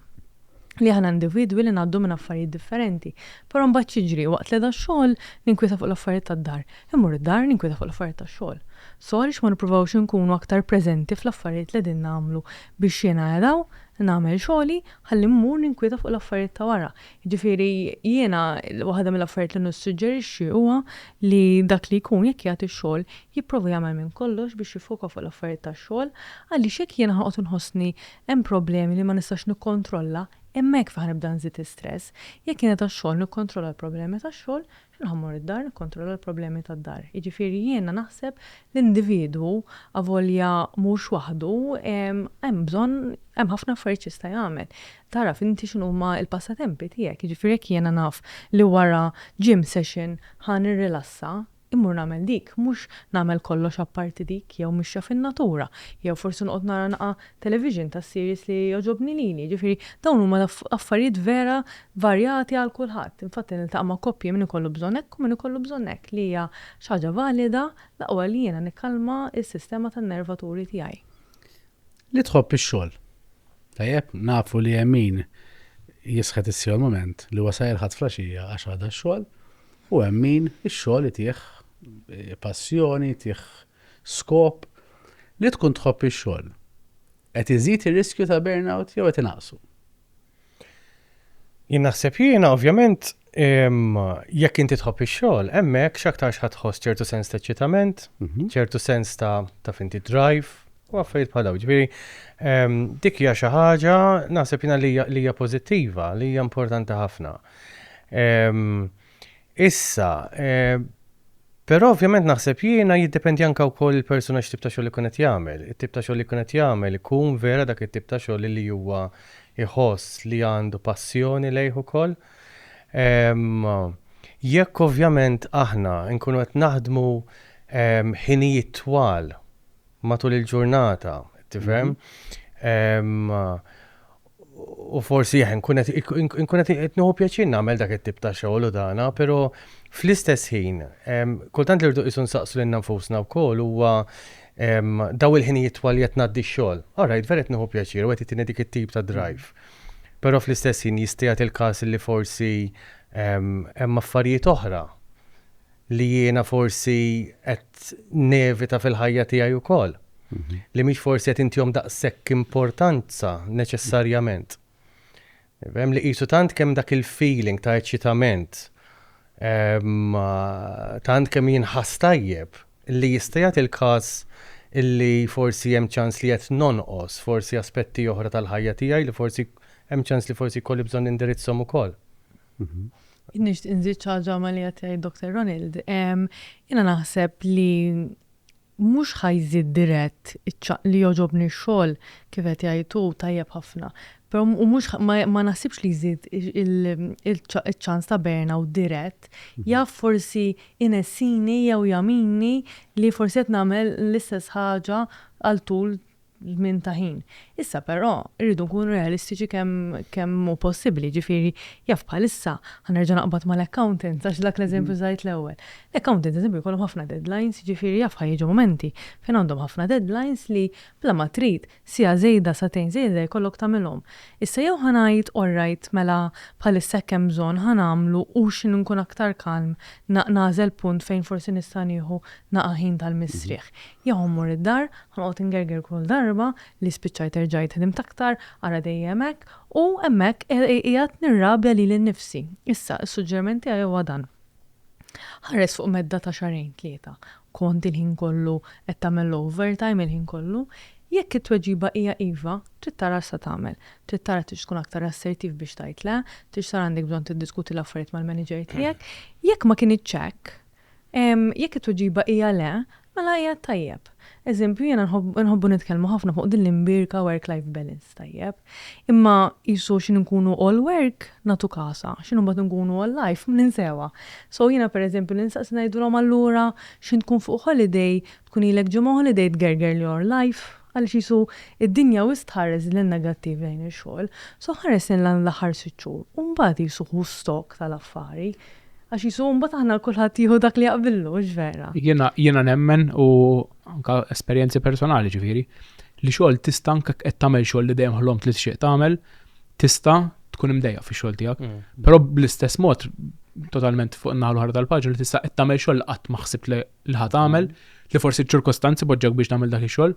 li aħna individwi li ngħaddu minn affarijiet differenti, però mbagħad x'jiġri, waqt li qiegħda x-xogħol ninkwieta fuq l-affarijiet tad-dar, immur id-dar ninkwieta fuq l-affarijiet tax-xogħol. So għaliex ma nippruvawx inkunu aktar preżenti fl-affarijiet li qegħdin nagħmlu biex jiena araw nagħmel xogħli ħalli mmur ninkwieta fuq l-affarijiet ta' wara. Jiġifieri jiena waħda mill-affarijiet li nissuġġerixxi huwa li dak li jkun jekk jagħti x-xogħol jipprova jagħmel minn kollox biex jiffoka fuq l-affarijiet tax-xogħol għaliex jekk jiena ħanoqgħod inħossni hemm problemi li ma nistax nikkontrolla hemmhekk fejn ħanibda nżid istress. Jekk jiena tax-xogħol nikkontrolla l-problemi tax-xogħol Irħa mmur id-dar nikkontrolla l-problemi tad-dar. Jiġifieri jiena naħseb l-individwu avolja mhux waħdu hemm bżonn hemm ħafna affarijiet x'jista' jagħmel. Tagħraf inti x'inhuma l-passatempi tiegħek, jiġifieri jekk jiena naf li wara gym session ħa nirrilassa, immur nagħmel dik, mhux nagħmel kollox apparti dik jew mixja fin-natura, jew forsi noqgħod nara naqra television ta' series li jogħġobni lili, jiġifieri dawn huma affarijiet vera varjati għal kulħadd. Infatti niltaqa' ma' koppji min ikollu bżonn hekk u min ikollu bżonn hekk li hija xi ħaġa valida, l-aqwa li jiena nikkalma s-sistema tan-nervaturi tiegħi. Li tħobb ix-xogħol. Tajjeb, nafu li hemm min jisħet issieħu l-mument li huwa sa jilħaq flaxija għax għada x-xogħol u hemm min ix-xogħol itih passjoni, itih Skop, Li tkun tħobb ix-xogħol, qed iżid ir-riskju ta' burnout jew qed inaqqsu? Jien naħseb jiena, ovvjament, jekk inti tħobb ix-xogħol, hemmhekk x'aktarx ħadd tħoss ċertu sens ta' eċċitament, mhm. ċertu sens ta' taf inti drive, u affarijiet bħal dawn. Ġifieri, ehm, dik hija xi ħaġa naħseb jiena li hija pożittiva, li hija importanti ħafna. Ehm, Issa, eh, però ovvjament naħseb jiena jiddependi anke wkoll il-persuna x'tip ta' xogħol ikun qed jagħmel. It-tip ta' xogħol li jkun qed jagħmel ikun vera dak it-tip ta' xogħol li huwa jħoss li għandu passjoni lejh ukoll. Ehm, jekk ovvjament aħna nkunu qed naħdmu ehm, ħinijiet twal matul il-ġurnata, tifhem? Mhm. Ehm, u forsi jħen kunet inkunet itnuħu pjaċin namel dak it-tip ta' xogħol u dana, pero fl-istess ħin, kultant li rdu isun saqsu l nfusna wkoll huwa daw il-ħinijiet twal jett naddi xogħol. Alright, vera tnuħu pjaċir, u għet dik it-tip ta' drive. Pero fl-istess ħin jistijat il-kas li forsi hemm affarijiet oħra li jiena forsi qed nevita fil-ħajja tiegħi wkoll, li mhix forsi qed intihom daqshekk importanza neċessarjament. Hemm li qisu tant kemm dak il-feeling ta' eċċitament, tant kemm jinħass tajjeb, li jista' jagħti l-każ li forsi hemm ċans li qed nonqos forsi aspetti oħra tal-ħajja tiegħi li forsi hemm ċans li forsi jkolli bżonn nindirizzhom ukoll. Nixtieq nżid xi ħaġa ma' li qed jgħid Dr. Ronald. Jiena naħseb li mhux ħa jżid dirett iċ-ċaqliq li jogħġobni x-xogħol kif qed jgħid hu tajjeb ħafna. Però u mhux ma naħsibx li jżid iċ-ċans ta' burnout dirett. Jaf forsi inessini jew jagħmilni li forsi qed nagħmel l-istess ħaġa għal tul żmien ta' ħin. Issa però rridu nkunu realistiċi kemm kemm hu possibbli, ġifieri jaf bħalissa ħanerġa' naqbad mal-accountants għax dak l-eżempju żgħid l-ewwel. L-accountants eżempju jkollhom ħafna deadlines, jiġifieri jaf ħa jiġu mumenti fejn għandhom ħafna deadlines li bla ma trid siegħa żejda, sagħtejn żejda jkollok tagħmilhom. Issa jew ħa ngħid all right mela bħalissa hekk hemm bżonn ħa nagħmlu u x'inhu nkun aktar kalm nagħżel punt fejn forsi nista' nieħu naqa' ħin tal-mistrieħ. Jew mmur id-dar, ħanoqgħod ingerger kull darba li spiċċajt erġajt ħdimt aktar, ara dejjem hekk, u hemmhekk qiegħed nirrabja lili nnifsi. Issa, is-suġġeriment tiegħi huwa dan. Ħares fuq medda ta' xahrejn, tlieta. Kont il-ħin kollu qed tagħmel l-overtime, il-ħin kollu? Jekk it-tweġiba hija iva, trid tara x'se tagħmel. Trid tara tridx tkun aktar assertiv biex tgħid le, tridx tara għandek bżonn tiddiskuti l-affarijiet mal-manager tiegħek. Jekk ma kinitx hekk, Jekk it-tweġiba hija le, mela qiegħed tajjeb. Eżempju, jiena nħobbu nitkellmu ħafna fuq din l-imbierka work-life balance, tajjeb? Imma qisu xi nkunu all work, nagħtu kasha, xi mbagħad nkunu all life, ninsewha. So jiena pereżempju li nsaqsi ngħidulhom allura x'ħin tkun fuq holiday, tkun ilek ġimgħa holiday tgerger li your life, Għaliex qisu d-dinja wisq tħares lejn negattiv lejn ix-xogħol, so ħares lejn dawn l-aħħar sitt xhur u mbagħad qisu ħu stock tal-affari. Għax qisu mbagħad aħna kulħadd jieħu dak li jaqbillu, hux vera? Jiena, jiena nemmen u anke esperjenzi personali ġifieri, li xogħol tista' anke jekk qed tagħmel xogħol li dejjem ħlomt li tixtieq tagħmel, tista' tkun imdejjaq fix-xogħol tiegħek. Però bl-istess mod, totalment fuq in-naħa l-oħra tal-paġna, li tista' qed tagħmel xogħol li qatt ma ħsibt li li ħa tagħmel, li forsi ċ-ċirkostanzi poġġek biex tagħmel dak ix-xogħol,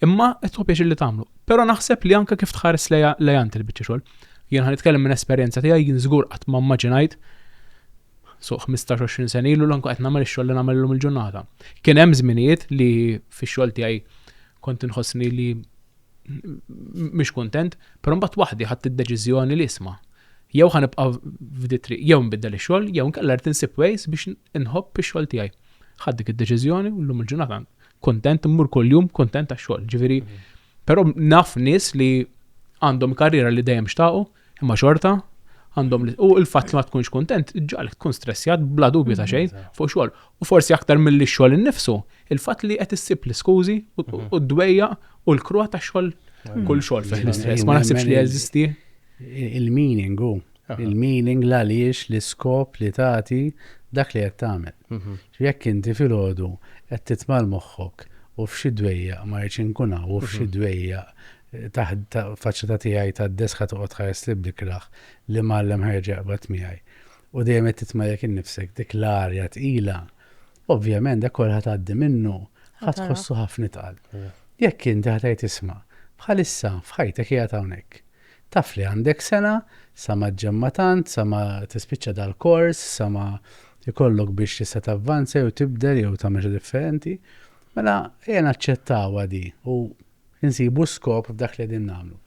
imma qed tħobb li tagħmlu. Però naħseb li anke kif tħares lejha lejha int il-biċċa xogħol. Jien ħan nitkellem minn esperjenza tiegħi jien żgur qatt ma mmaġinajt so 15-20 sen ilu l qed nagħmel ix-xogħol li nagħmel illum il-ġurnata. Kien hemm żminijiet li fix-xogħol tiegħi kont inħossni li mhix kuntent, però mbagħad waħdi ħadt id-deċiżjoni li isma' jew ħa nibqa' f'di triq jew nbiddel ix-xogħol jew inkella rrid insib ways biex inħobb ix-xogħol tiegħi. Ħadd dik id-deċiżjoni u llum il-ġurnata kuntent immur kuljum kuntent għax-xogħol. Ġifieri, mhm. però naf nies li għandhom karriera li dejjem xtaqu, Imma xorta, għandhom li u l-fatt li ma tkunx kuntent ġalk tkun stressjat bla dubju ta' xejn mm-hmm. fuq xogħol. U forsi aktar milli x-xogħol innifsu, il-fatt li qed issib l-iskużi u mm-hmm. d-dwejja u l-krua ta' xogħol mm-hmm. kull xogħol fih l-istress. Ma naħsibx li jeżisti. Il-meaning u il-meaning l għaliex l-iskop li tagħti dak li qed tagħmel. Jekk inti filgħodu qed titmal moħħok u f'xi dwejja ma rridx inkun u f'xi dwejja taħt faċċata tiegħi tad-deskha toqgħod tħares lil bnikraħ li mgħallem ħa jerġa' jaqbad miegħi. U dejjem qed titmerrek innifsek dik l-arja tqila. Ovvjament dak kollu ħa tgħaddi minnu, ħa tħossu ħafna itqal. Jekk inti ħa tgħid isma' bħalissa f'ħajtek hija hawnhekk. Taf li għandek sena sa ma ġġemma tant, sa ma tispiċċa dal-kors, sa ma jkollok biex tista' tavvanza jew tibdel jew tagħmel xi differenti. Mela ejja naċċettawha di u Insibu s-skop f'dak li qegħdin nagħmlu.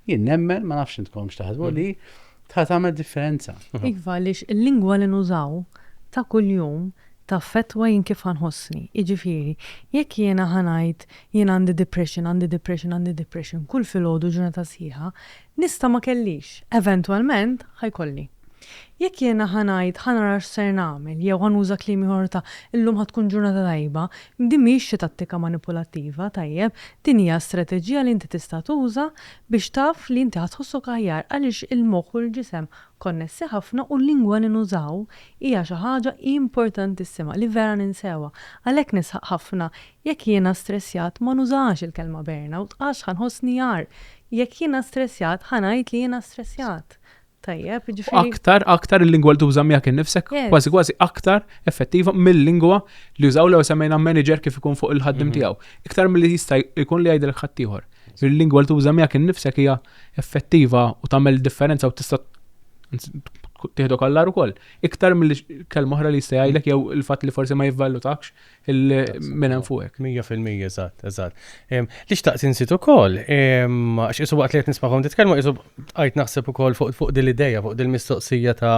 Jien nemmen, ma nafx intkom x'taħsbu li tħa tagħmel differenza. Iva, għaliex il-lingwa li nużaw ta' kuljum taffettwa jien kif ħa nħossni. Jiġifieri, jekk jiena ħa ngħid jien għandi depression, għandi depression, għandi depression kull filgħodu ġurnata sħiħa, Nista' ma kellix. Eventwalment ħa jkolli. Jekk jiena ħa ngħid ħa nara x'ser nagħmel jew ħa nuża kliem ieħor ta' illum ħa tkun ġurnata tajba, din mhijiex xi tattika manipulattiva, tajjeb, din hija strateġija li inti tista' tuża biex taf li inti ħa tħossok aħjar għaliex il-moħħ u l-ġisem konnessi ħafna u l-lingwa li nużaw hija xi ħaġa importantissima li vera ninsewha. Għalhekk nisħaq ħafna Jekk jiena stressjat ma nużax il-kelma burnout għax ħa nħossni agħar. Jekk jiena stressjat ħa ngħid li jiena stressjat. Tajjeb, jiġifieri. U aktar, aktar il-lingwa li tuża miegħek innifsek, kważi kważi aktar effettiva mill-lingwa li jużaw l-ewwel semmejna manager kif ikun fuq il-ħaddiem tiegħu. Iktar milli jista' jkun li jgħidilek ħaddieħor. Il-lingwa li tuża miegħek innifsek hija effettiva u tagħmel differenza u tista' tieħdok għall-agħar ukoll. Iktar milli kelma oħra li jista' jgħidlek jew il-fatt li forsi ma jivvalutakx minn hemm fuq hekk. Mija fil-mija, eżatt, eżatt. Li xtaqt insit ukoll, għax isu waqt li qed nismagħhom titkellmu isu qajt naħseb ukoll fuq din l-idea, fuq din mistoqsija ta'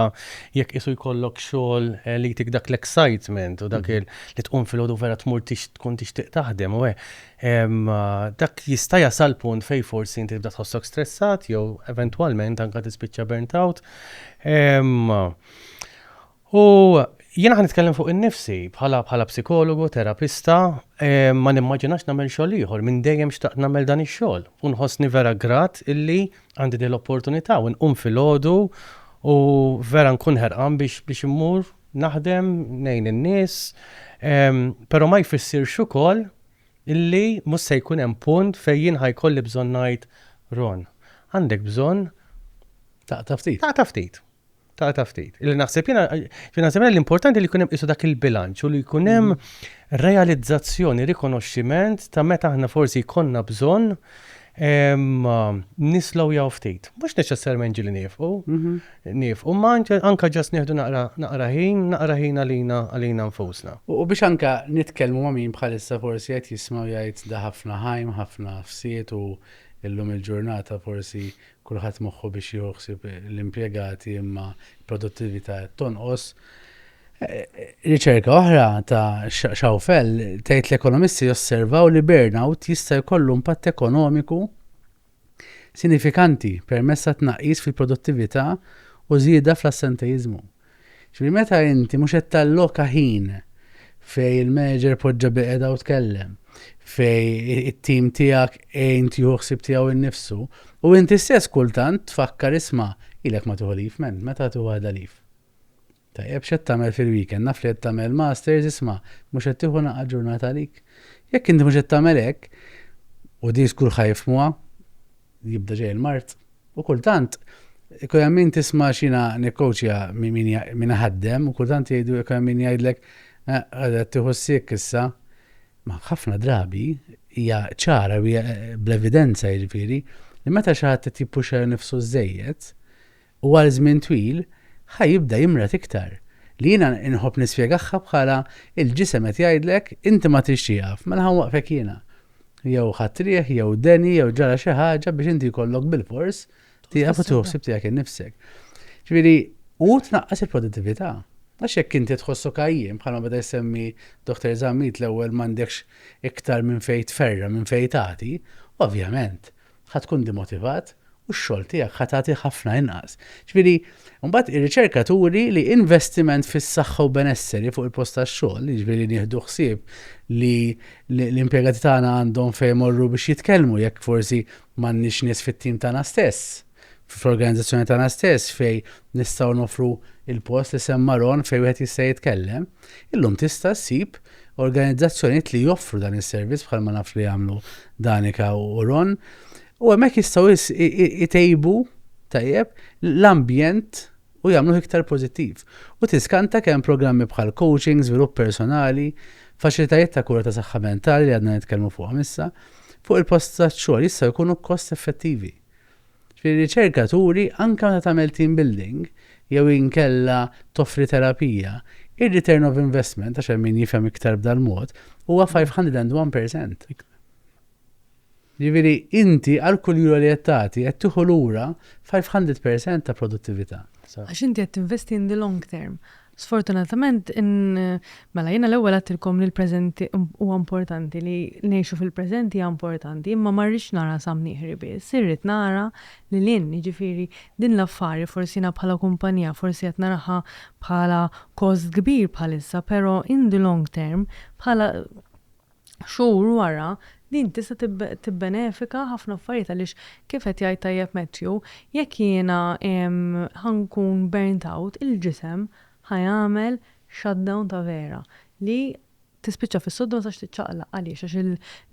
jekk isu jkollok xogħol eh, li jtik dak l-excitement u dak mm-hmm. li tqum fil-ħodu vera tmur tkun tixtieq taħdem u dak jista' jasal punt fej forsi inti tibda tħossok stressat jew eventwalment anka tispiċċa burnt out. U jiena ħa nitkellem fuq innifsi, bħala bħala psikologu, terapista, ma nimmaġinax nagħmel xogħol ieħor, minn dejjem xtaqt nagħmel dan ix-xogħol u nħossni vera grat illi għandi din l-opportunità u nqum filgħodu u vera nkun ħerqan biex biex immur naħdem, ngħin in-nies, però ma jfissirx ukoll illi mhux se jkun hemm punt fejn jien ħa jkolli bżonn ngħid, Ron, għandek bżonn taqta' ftit, taqta' ftit. Ta' ta' ftit. Illi naħseb jiena jiena naħseb li importanti li jkun hemm qisu dak il-bilanċ u li jkun hemm mm. realizzazzjoni, rikonoxximent ta' meta aħna forsi jkollna bżonn nislow jaw ftit. Mhux neċessarjament ġili nifqu, mhm. nifqu, ma anka ġas neħdu naqra ħin, naqra ħin għalina għalina nfusna. U biex anka nitkellmu ma' min bħalissa forsi qed jismaw jgħid da ħafna ħajm, ħafna fsiet u illum il-ġurnata forsi Kulħadd moħħu biex jieħu ħsieb l-impjegati imma l-produttività qed tonqos. Riċerka oħra ta' Schaufel tgħid l-ekonomisti josservaw li burnout jista' jkollu impatt ekonomiku sinifikanti permezz ta' tnaqqis fil-produttività u żieda fl-assenteiżmu. Jiġifieri meta inti mhux qed talloka ħin fejn il-manager poġġa biqedha u tkellem, fejn it-tim tiegħek għin tieħu ħsieb tiegħu innifsu, u inti stess kultant tfakkar isma' ilek ma tieħu leave man, meta tieħu waħda leave? Tajjeb x'qed tagħmel fil-weekend, naf li qed tagħmel masters isma' mhux qed tieħu naqa' ġurnata għalik. Jekk inti mhux qed tagħmel hekk, u din skur ħajfmuha, jibda ġej il-mard. U kultant, ikun hemm min tisma' x'jiena nikkowċja min iħaddem u kultant jgħidu ikun hemm min jgħidlek qed eh, tieħu s-siek issa. Ma ħafna drabi hija ċara u eh, bl-evidenza jiġifieri li meta xi ħadd qed jippuxxa nifsu żejjed, u għal żmien twil ħa jibda jimrad iktar, li jiena inħobb nispjegagħha bħala il-ġisem qed jgħidlek inti ma tridx tieqaf, mela ħa nwaqqfek jiena. Jew ħadt riħ, jew deni, jew ġara xi ħaġa biex inti jkollok bilfors tieqaf u tieħu ħsieb tiegħek innifsek. Ġifieri, u tnaqqas il-produttività. Għax jekk inti tħossu kajjim bħalma beda jsemmi Dr. Zammit l-ewwel m'għandekx iktar minn fejn tferra, minn fejn tagħti, ovvjament. ħa tkun dimotivat u x-xogħol tiegħek ħa tagħti ħafna inqas. Ġifieri, mbagħad ir-riċerka turi li investiment fis-saħħa u benesseri fuq il-post tax-xogħol, jiġifieri nieħdu ħsieb li l-impjegati tagħna għandhom fejn imorru biex jitkellmu jekk forsi m'għandniex nies fit-tim tagħna stess, fl-organizzazzjoni tagħna stess fejn nistgħu noffru il-post li semma Ron fejn wieħed jista' jitkellem, illum tista' ssib organizzazzjonijiet li joffru dan is-servizz bħal ma naf li jagħmlu Danika u Ron. U hemmhekk jistgħu jtejbu tajjeb l-ambjent u jagħmlu iktar pożittiv. U tiskanta kemm programmi bħal coaching, żvilupp personali, faċilitajiet ta' kura ta' saħħa mentali li għadna nitkellmu fuqhom issa, fuq il-post ta' xogħol jistgħu jkunu kost effettivi. Ġifieri riċerka turi anke meta tagħmel team building jew inkella toffri terapija, ir-return of investment, għax hemm min jifhem iktar b'dal-mod, huwa 501 percent. Ġifieri inti għal kull euro li qed tagħti qed tieħu lura 500 percent ta' produttività. Għax inti qed tinvesti in the long term. Sfortunatament, in, mela jiena l-ewwel għedtilkom li l-preżenti huwa importanti, li ngħixu fil-preżenti hija importanti, imma ma rridx nara Sam Nieħri biss, irrid nara lil hinn, jiġifieri din l-affari forsi jiena bħala kumpanija forsi qed naraha bħala kost kbir bħalissa, però in the long term, bħala, Xhur wara, din tista' tibbenefika ħafna affarijiet għaliex kif qed jgħid tajjeb Matthew, jekk jiena ħa nkun burnt out, il-ġisem ħa jagħmel shutdown ta' vera li tispiċċa fis-sodda ma tistax tiċċaqlaq. Għaliex? Għax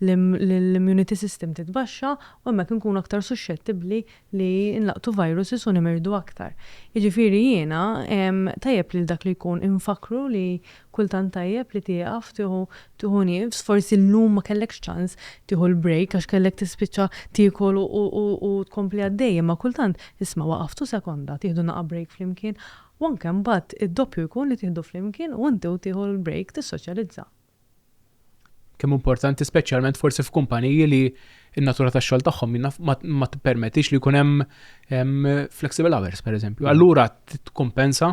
l-immunity system titbaxxa u hemmhekk inkunu aktar suxxettibbli li nlaqtu viruses u nimirdu aktar. Jiġifieri jiena tajjeb lil dak li jkun infakkru li kultant tajjeb li tieqaf tieħu tieħu nifs, forsi llum ma kellekx ċans tieħu l-break għax kellek tispiċċa tiekol u tkompli għaddej imma kultant isma' waqaftu sekonda tieħdu naqa' break flimkien u anke mbagħad id-doppju jkun li tieħdu flimkien u inti u tieħu l-break tissoċjalizza. Kemm hu importanti speċjalment forsi f'kumpaniji li n-natura tax-xogħol tagħhom ma tippermettix li jkun hemm flexible hours, pereżempju. Mm. Allura tkompensa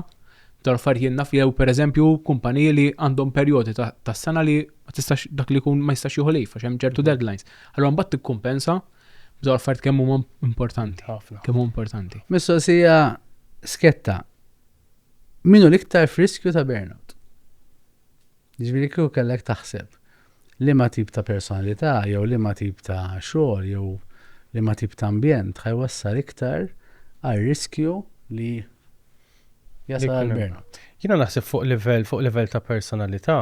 tal-affarijiet naf jew pereżempju kumpaniji li għandhom perjodi tas-sena li ma tistax dak li jkun ma jistax jieħu lejf għax hemm ċertu mm. deadlines. Allura mbagħad tikkumpensa b'daw affarijiet kemm huma importanti. Ħafna. Kemm huma importanti. Mistoqsija sketta. Minu l-iktar friskju ta' burnout? Jiġifieri kieku kellek taħseb liema tip ta' personalità jew liema tip ta' xogħol jew liema tip ta' ambjent ħa jwassal iktar għar-riskju li jasal għal burnout. Jiena naħseb fuq livell fuq livell ta' personalità.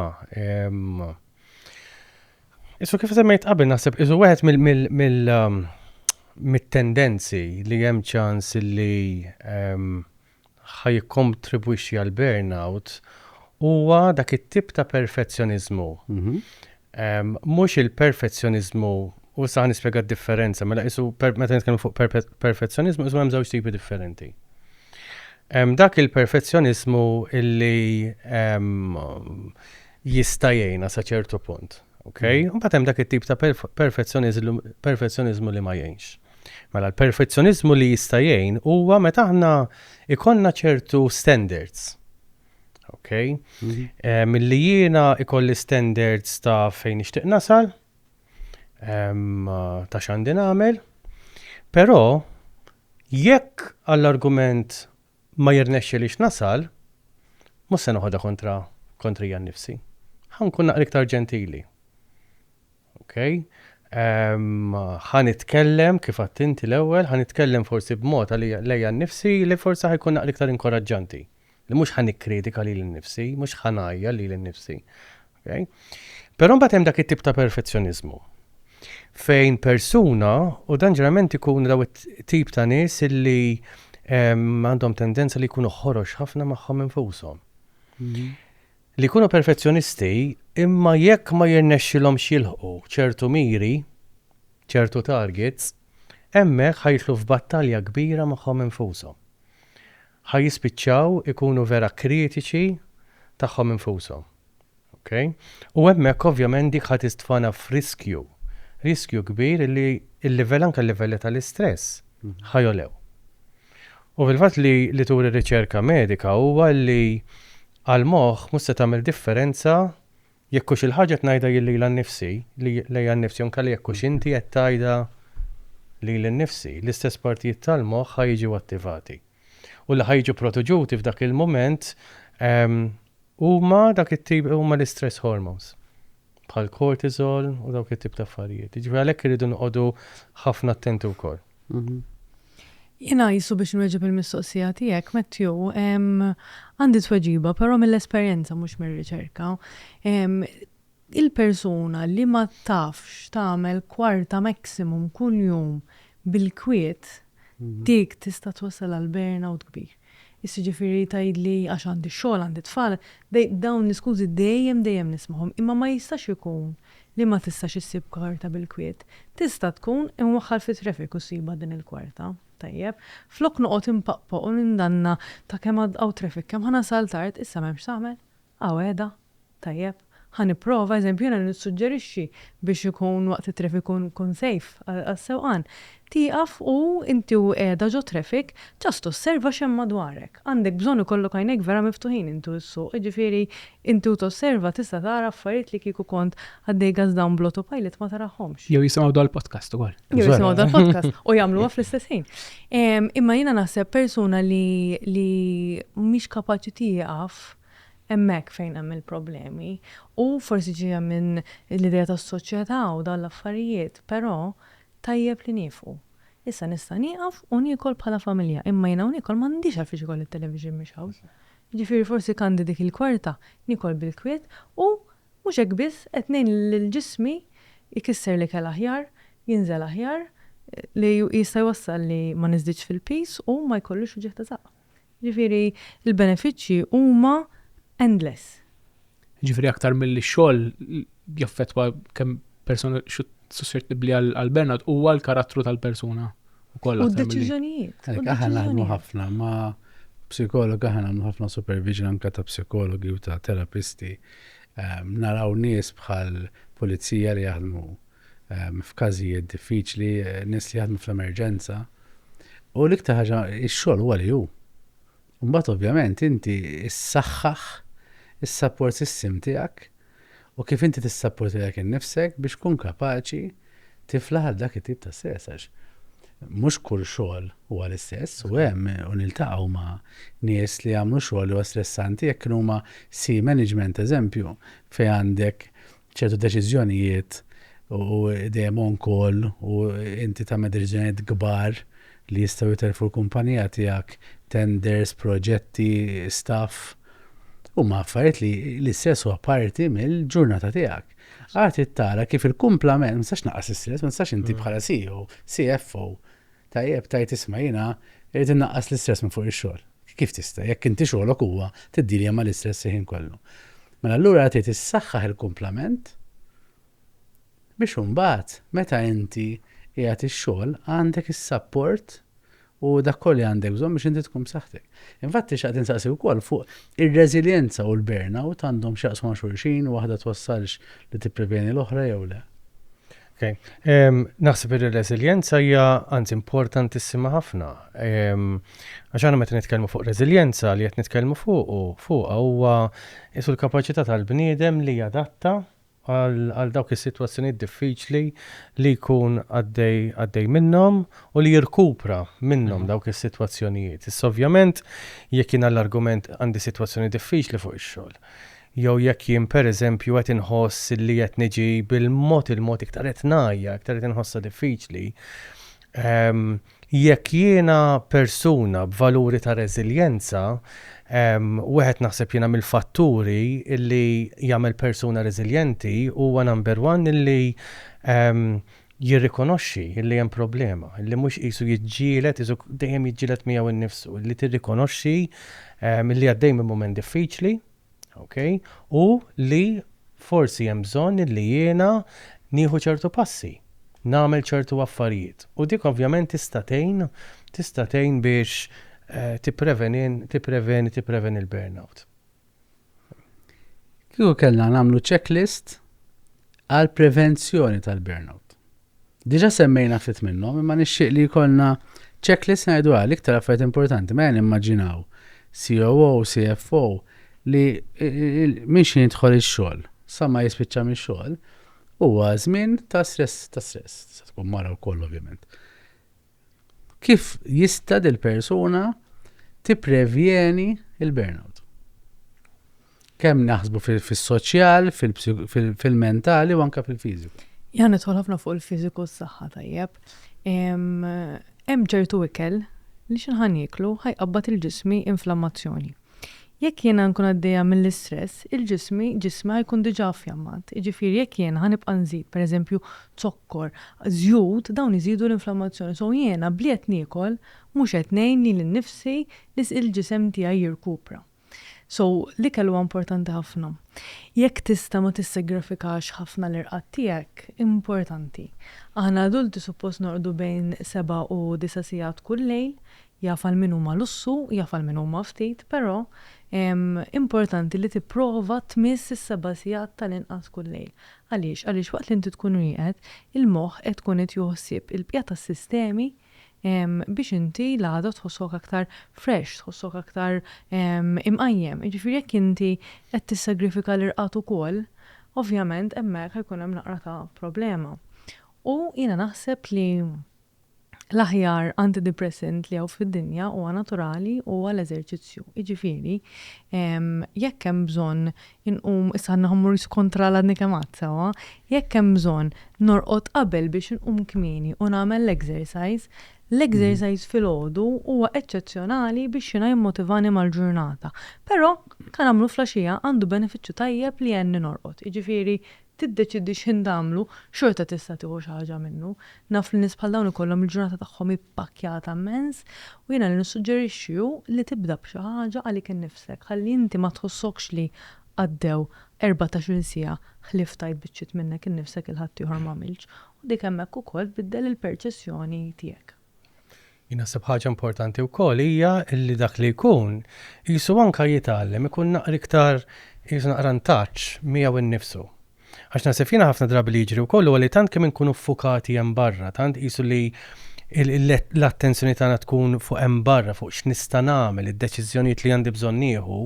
Isma' kif semmejt qabel naħseb isu wieħed mill mit-tendenzi li hemm ċans li ħa jikkontribwixxi għall-burnout huwa dak it-tip ta' perfezzjoniżmu. Mhux il-perfezzjoniżmu, u issa ħa nispjega d-differenza, mela qisu meta nitkellmu fuq perfezzjoniżmu qisu hemm żewġ tipi differenti. Hemm dak il-perfezzjoniżmu li jista' jgħinna sa ċertu punt, okay? Imbagħad hemm dak it-tip ta' perfezzjoniżmu li ma jgħinx. Mela l-perfezzjoniżmu li jista' jgħin huwa meta aħna ikollna ċertu standards. Ok? Mhm. Eh, milli jiena ikolli standards ta' fejn nixtieq nasal, ehm, ta' x'għandi nagħmel, però jekk għall-argument ma jirnexxi li nasal, mhux se noħodha kontra kontrija nnifsi. Ħankun naqra iktar ġentili. Ok. Ħa nitkellem, kif għadt inti l-ewwel, ħa nitkellem forsi b'mod għalija lejja nnifsi li forsi ħa jkun naqra iktar inkoraġġanti. Li mhux ħa nikkritika lili nnifsi, mhux ħa ngħajjar lili nnifsi. Ok. Però mbagħad hemm dak it-tip ta' perfezzjoniżmu fejn persuna, u dan ġeneralment ikun daw it-tip ta' nies illi għandhom tendenza li jkunu ħorox ħafna magħhom infushom. Mhm. li jkunu perfezzjonisti imma jekk ma jirnexxilhomx jilħqu ċertu miri, ċertu targets, hemmhekk ħa jidħlu f'battalja kbira magħhom infushom. Ħa jispiċċaw ikunu vera kritiċi tagħhom infushom. Ok? U hemmhekk ovvjament dik ħa tistfana f'riskju, riskju kbir li l-livell anke l-livelli tal-istress ħa jogħlew. U fil-fatt li turi riċerka medika huwa li Għall-moħħ mhux se tagħmel differenza jekk hux il-ħaġa qed ngħidha jien lila nnifsi, lejja nnifsi jew inkella jekk hux inti qed tgħidha lili nnifsi, l-istess partijiet tal-moħħ ħa jiġu attivati. U li ħa jiġu protuġuti f'dak il-mument huma dak it-tip huma l-istress hormones bħall-cortisol u dawk it-tip ta' affarijiet. Jiġifieri għalhekk irridu noqogħdu ħafna attenti wkoll. Jiena qisu biex inwieġeb il-mistoqsija tiegħek, Matthew, għandi tweġiba però mill-esperjenza mhux mir-riċerka. Il-persuna li ma tafx tagħmel kwarta maximum kuljum bil-kwiet, dik tista' twassal għal burnout kbir. Issa jiġifieri tgħidli għax għandi x-xogħol, għandi t-tfal, dej, dawn l-iskużi dejjem, dejjem nismagħhom, imma ma jistax ikun li ma tistax issib karta bil-kwiet. Tista' tkun, inwaħħal fit-traffic u ssibha din il-kwarta. Tajjeb. Flok noqgħod inpaqpoq u nindanna ta' kemm hawn traffic, kemm ħa nasal tard, issa m'hemmx x'tagħmel. Hawn qiegħda. Tajjeb, ħa nipprova, eżempju jiena nissuġġerixxi biex ikun waqt it-traffic ikun safe għas-sewqan, tieqaf u inti u qiegħda ġo traffic just osserva x'hemm madwarek. Għandek bżonn ikollok għajnejk vera miftuħin inti u ssuq, jiġifieri inti u tosserva tista' tara affarijiet li kieku kont għaddej gas down bl-autopilot ma tarahomx. Jew jisimgħu dal-podcast ukoll. Jew jisimgħu dal-podcast u jagħmluha fl-istess ħin. Imma jiena naħseb persuna li mhix kapaċi tieqaf, Hemmhekk fejn hemm il-problemi. U forsi ġejja minn l-idea tas-soċjetà u dawn l-affarijiet, però tajjeb li niefqu. Issa nista' nieqaf u niekol bħala familja, imma jien hawn niekol m'għandix għalfiex ikolli t-television mhix hawn. Jiġifieri forsi kandi dik il-kwarta, niekol bil-kwiet u mhux hekk biss qed ngħin lil ġismi jkisser l-ikel aħjar, jinżel aħjar, li jista' jwassal li ma niżdidx fil-piż u ma jkollux uġigħ ta' żaqq. Jiġifieri l-benefiċċji huma endless. Jiġifieri aktar milli x-xogħol jaffettwa kemm persuna suscettibbli għall-burnout huwa l-karattru tal-persuna wkoll. U d-deċiżjonijiet. Aħna naħdmu ħafna ma' psikologa, aħna naħdmu ħafna supervision anke ta' psikologi u ta' terapisti. Naraw nies bħal pulizija li jaħdmu f'każijiet diffiċli, nies li jaħdmu fl-emerġenza, u l-iktar ħaġa x-xogħol huwa li hu. Imbagħad ovvjament inti ssaħħaħ is-support system tiegħek u kif inti tissapport lilek innifsek biex tkun kapaċi tifla għal dak it-tip ta' stress għax mhux kull xogħol huwa l-istess u hemm u niltaqgħu ma' nies li jagħmlu xogħol huwa stressanti jekk huma si management eżempju fejn għandek ċertu deċiżjonijiet u dejjem on call u inti tagħmel deċiżjonijiet kbar li jistgħu jitellfu l-kumpanija tiegħek, tenders, proġetti, staff. Huma affarijiet li l-istress huwa parti mill-ġurnata tiegħek. Għad tara kif il-kumplament, ma nistax naqas l-istress, ma nistax inti mm. bħala CEO, CFO, Tajjeb, tgħid isma' jiena rrid innaqqas l-istress minn fuq ix-xogħol. Kif tista', jekk inti xogħlok huwa tiddilia mal-istress il-ħin kollu? Mela allura trid issaħħaħ il-kumplament biex imbagħad meta inti qiegħed ix-xogħol għandek is-sapport u dak kollu li għandek bżonn biex inti tkun b'saħħtek. Infatti xaqt insaqsi wkoll fuq ir-reżiljenza u l-burnout għandhom x'jaqsmu ma' xulxin u waħda twassalx li tippreveni l-oħra jew le. Okay. Um, naħseb li reżiljenza hija anzi importantissima ħafna. Għax um, meta nitkellmu fuq reżiljenza li qed nitkellmu fuq fuqha huwa isu l-kapaċità tal-bniedem li jadatta għal dawk is-sitwazzjonijiet diffiċli li jkun għaddej minnhom u li jirkupra minnhom mhm. dawk is-sitwazzjonijiet. Issa ovvjament jekk jiena l-argument għandi sitwazzjoni diffiċli fuq ix-xogħol. jew jekk jien pereżempju qed inħoss li qed niġi bil-mod il-mod iktar qed ngħajja, iktar qed inħossha diffiċli, jekk jiena persuna b'valuri ta' reżiljenza, wieħed naħseb jiena mill-fatturi li jagħmel persuna reżiljenti huwa number one illi jirrikonoxxi illi hemm problema, illi mhux qisu jiġġieled, qisu dejjem jiġġieled miegħu nnifsu, illi tirrikonoxxi illi għaddej minn mument diffiċli, Okay? U li forsi hemm bżonn illi jiena nieħu ċertu passi, nagħmel ċertu affarijiet. U dik ovvjament tista' tgħin, tista' tgħin biex eh, tippreveni, tippreveni, tippreveni l-burnout. Kieku kellna nagħmlu checklist għal prevenzjoni tal-burnout. Diġà semmejna ftit minnhom imma nixtieq li jkollna checklist ngħiduha l-iktar affarijiet importanti mela nimmaġinaw COO, CFO li minn xi jidħol ix-xogħol sa ma jispiċċa mix-xogħol huwa żmien ta' stress, ta' stress, tista' tkun mara wkoll ovvjament. Kif jista' dil-persuna tipprevjeni l-burnout? Kemm naħsbu fis-soċjal, fil-mentali u anke fil-fiżiku. Jan nidħol ħafna fuq il-fiżiku s-saħħa tajjeb. Hemm ċertu ikel li xi ħan jieklu ħajqabbad il-ġismi inflammazzjoni. Jekk jiena nkun għaddejja mill-istress, il-ġismi, ġismi ħa jkun diġà affjammat. Jiġifieri jekk jiena ħa nibqa' nżid, per eżempju, zokkor, żjut, dawn iżidu l-inflammazzjoni. So jiena b'li qed niekol mhux qed ngħin lili nnifsi li il-ġisem tiegħi jirkupra. So l-ikel huwa importanti ħafna. Jekk tista' ma tissegrafikax ħafna l-irqad tiegħek, importanti. Aħna adulti suppost norqdu bejn seba' u disa' sigħat kull lejl, Jaf għal min huma lussu, jaf għal min huma ftit, però importanti li tipprova tmiss is-seba' sigħat tal-inqas kull lejl. Għaliex? Għaliex waqt li inti tkun rieqed, il-moħħ qed tkun qed jieħu ħsieb il-bqija tas-sistemi biex inti l-għada tħossok aktar fresh, tħossok aktar imqajjem. Jiġifieri jekk inti qed tissagrifika l-irqad ukoll, ovvjament hemmhekk ħa jkun hemm naqra ta' problema. U jiena naħseb li L-aħjar antidepressant li hawn fid-dinja huwa naturali u huwa l-eżerċizzju. Jiġifieri, jekk hemm bżonn inqum, issa naħa mmur kontra l għadni kemm għedt sewwa, jekk hemm bżonn norqod qabel biex inqum kmieni u nagħmel l-exercise, l-exercise filgħodu huwa eċċezzjonali biex jiena jimmotivani mal-ġurnata. Però, ka nagħmlu flaxija, għandu benefiċċju tajjeb li għenni norqod. Jiġifieri, tiddeċiedi x'ħin tagħmlu, xorta tista' tieħu xi ħaġa minnu. Naf li nies bħal dawn ikollhom il-ġurnata tagħhom ippakkjata mmens, u jiena li nissuġġerixxi hu li tibda b'xi ħaġa għalik innifsek, ħalli inti ma tħossokx li għaddew erbatax-il siegħa ħlief tajt biċċiet minnek innifsek 'il ħaddieħor m'għamilx, u dik hemmhekk ukoll tbiddel il-perċessjoni tiegħek. Jien naħseb ħaġa importanti wkoll hija li dak li jkun qisu anke jitgħallem ikun naqra iktar qisu naqra ntaċċ miegħu nnifsu. Għax naħseb jiena ħafna drabi li jiġri wkoll huwa li tant kemm inkunu ffukati hemm barra, tant qisu li l-attenzjoni tagħna tkun fuq hemm barra, fuq x'nista' nagħmel, id-deċiżjonijiet li għandi bżonn nieħu,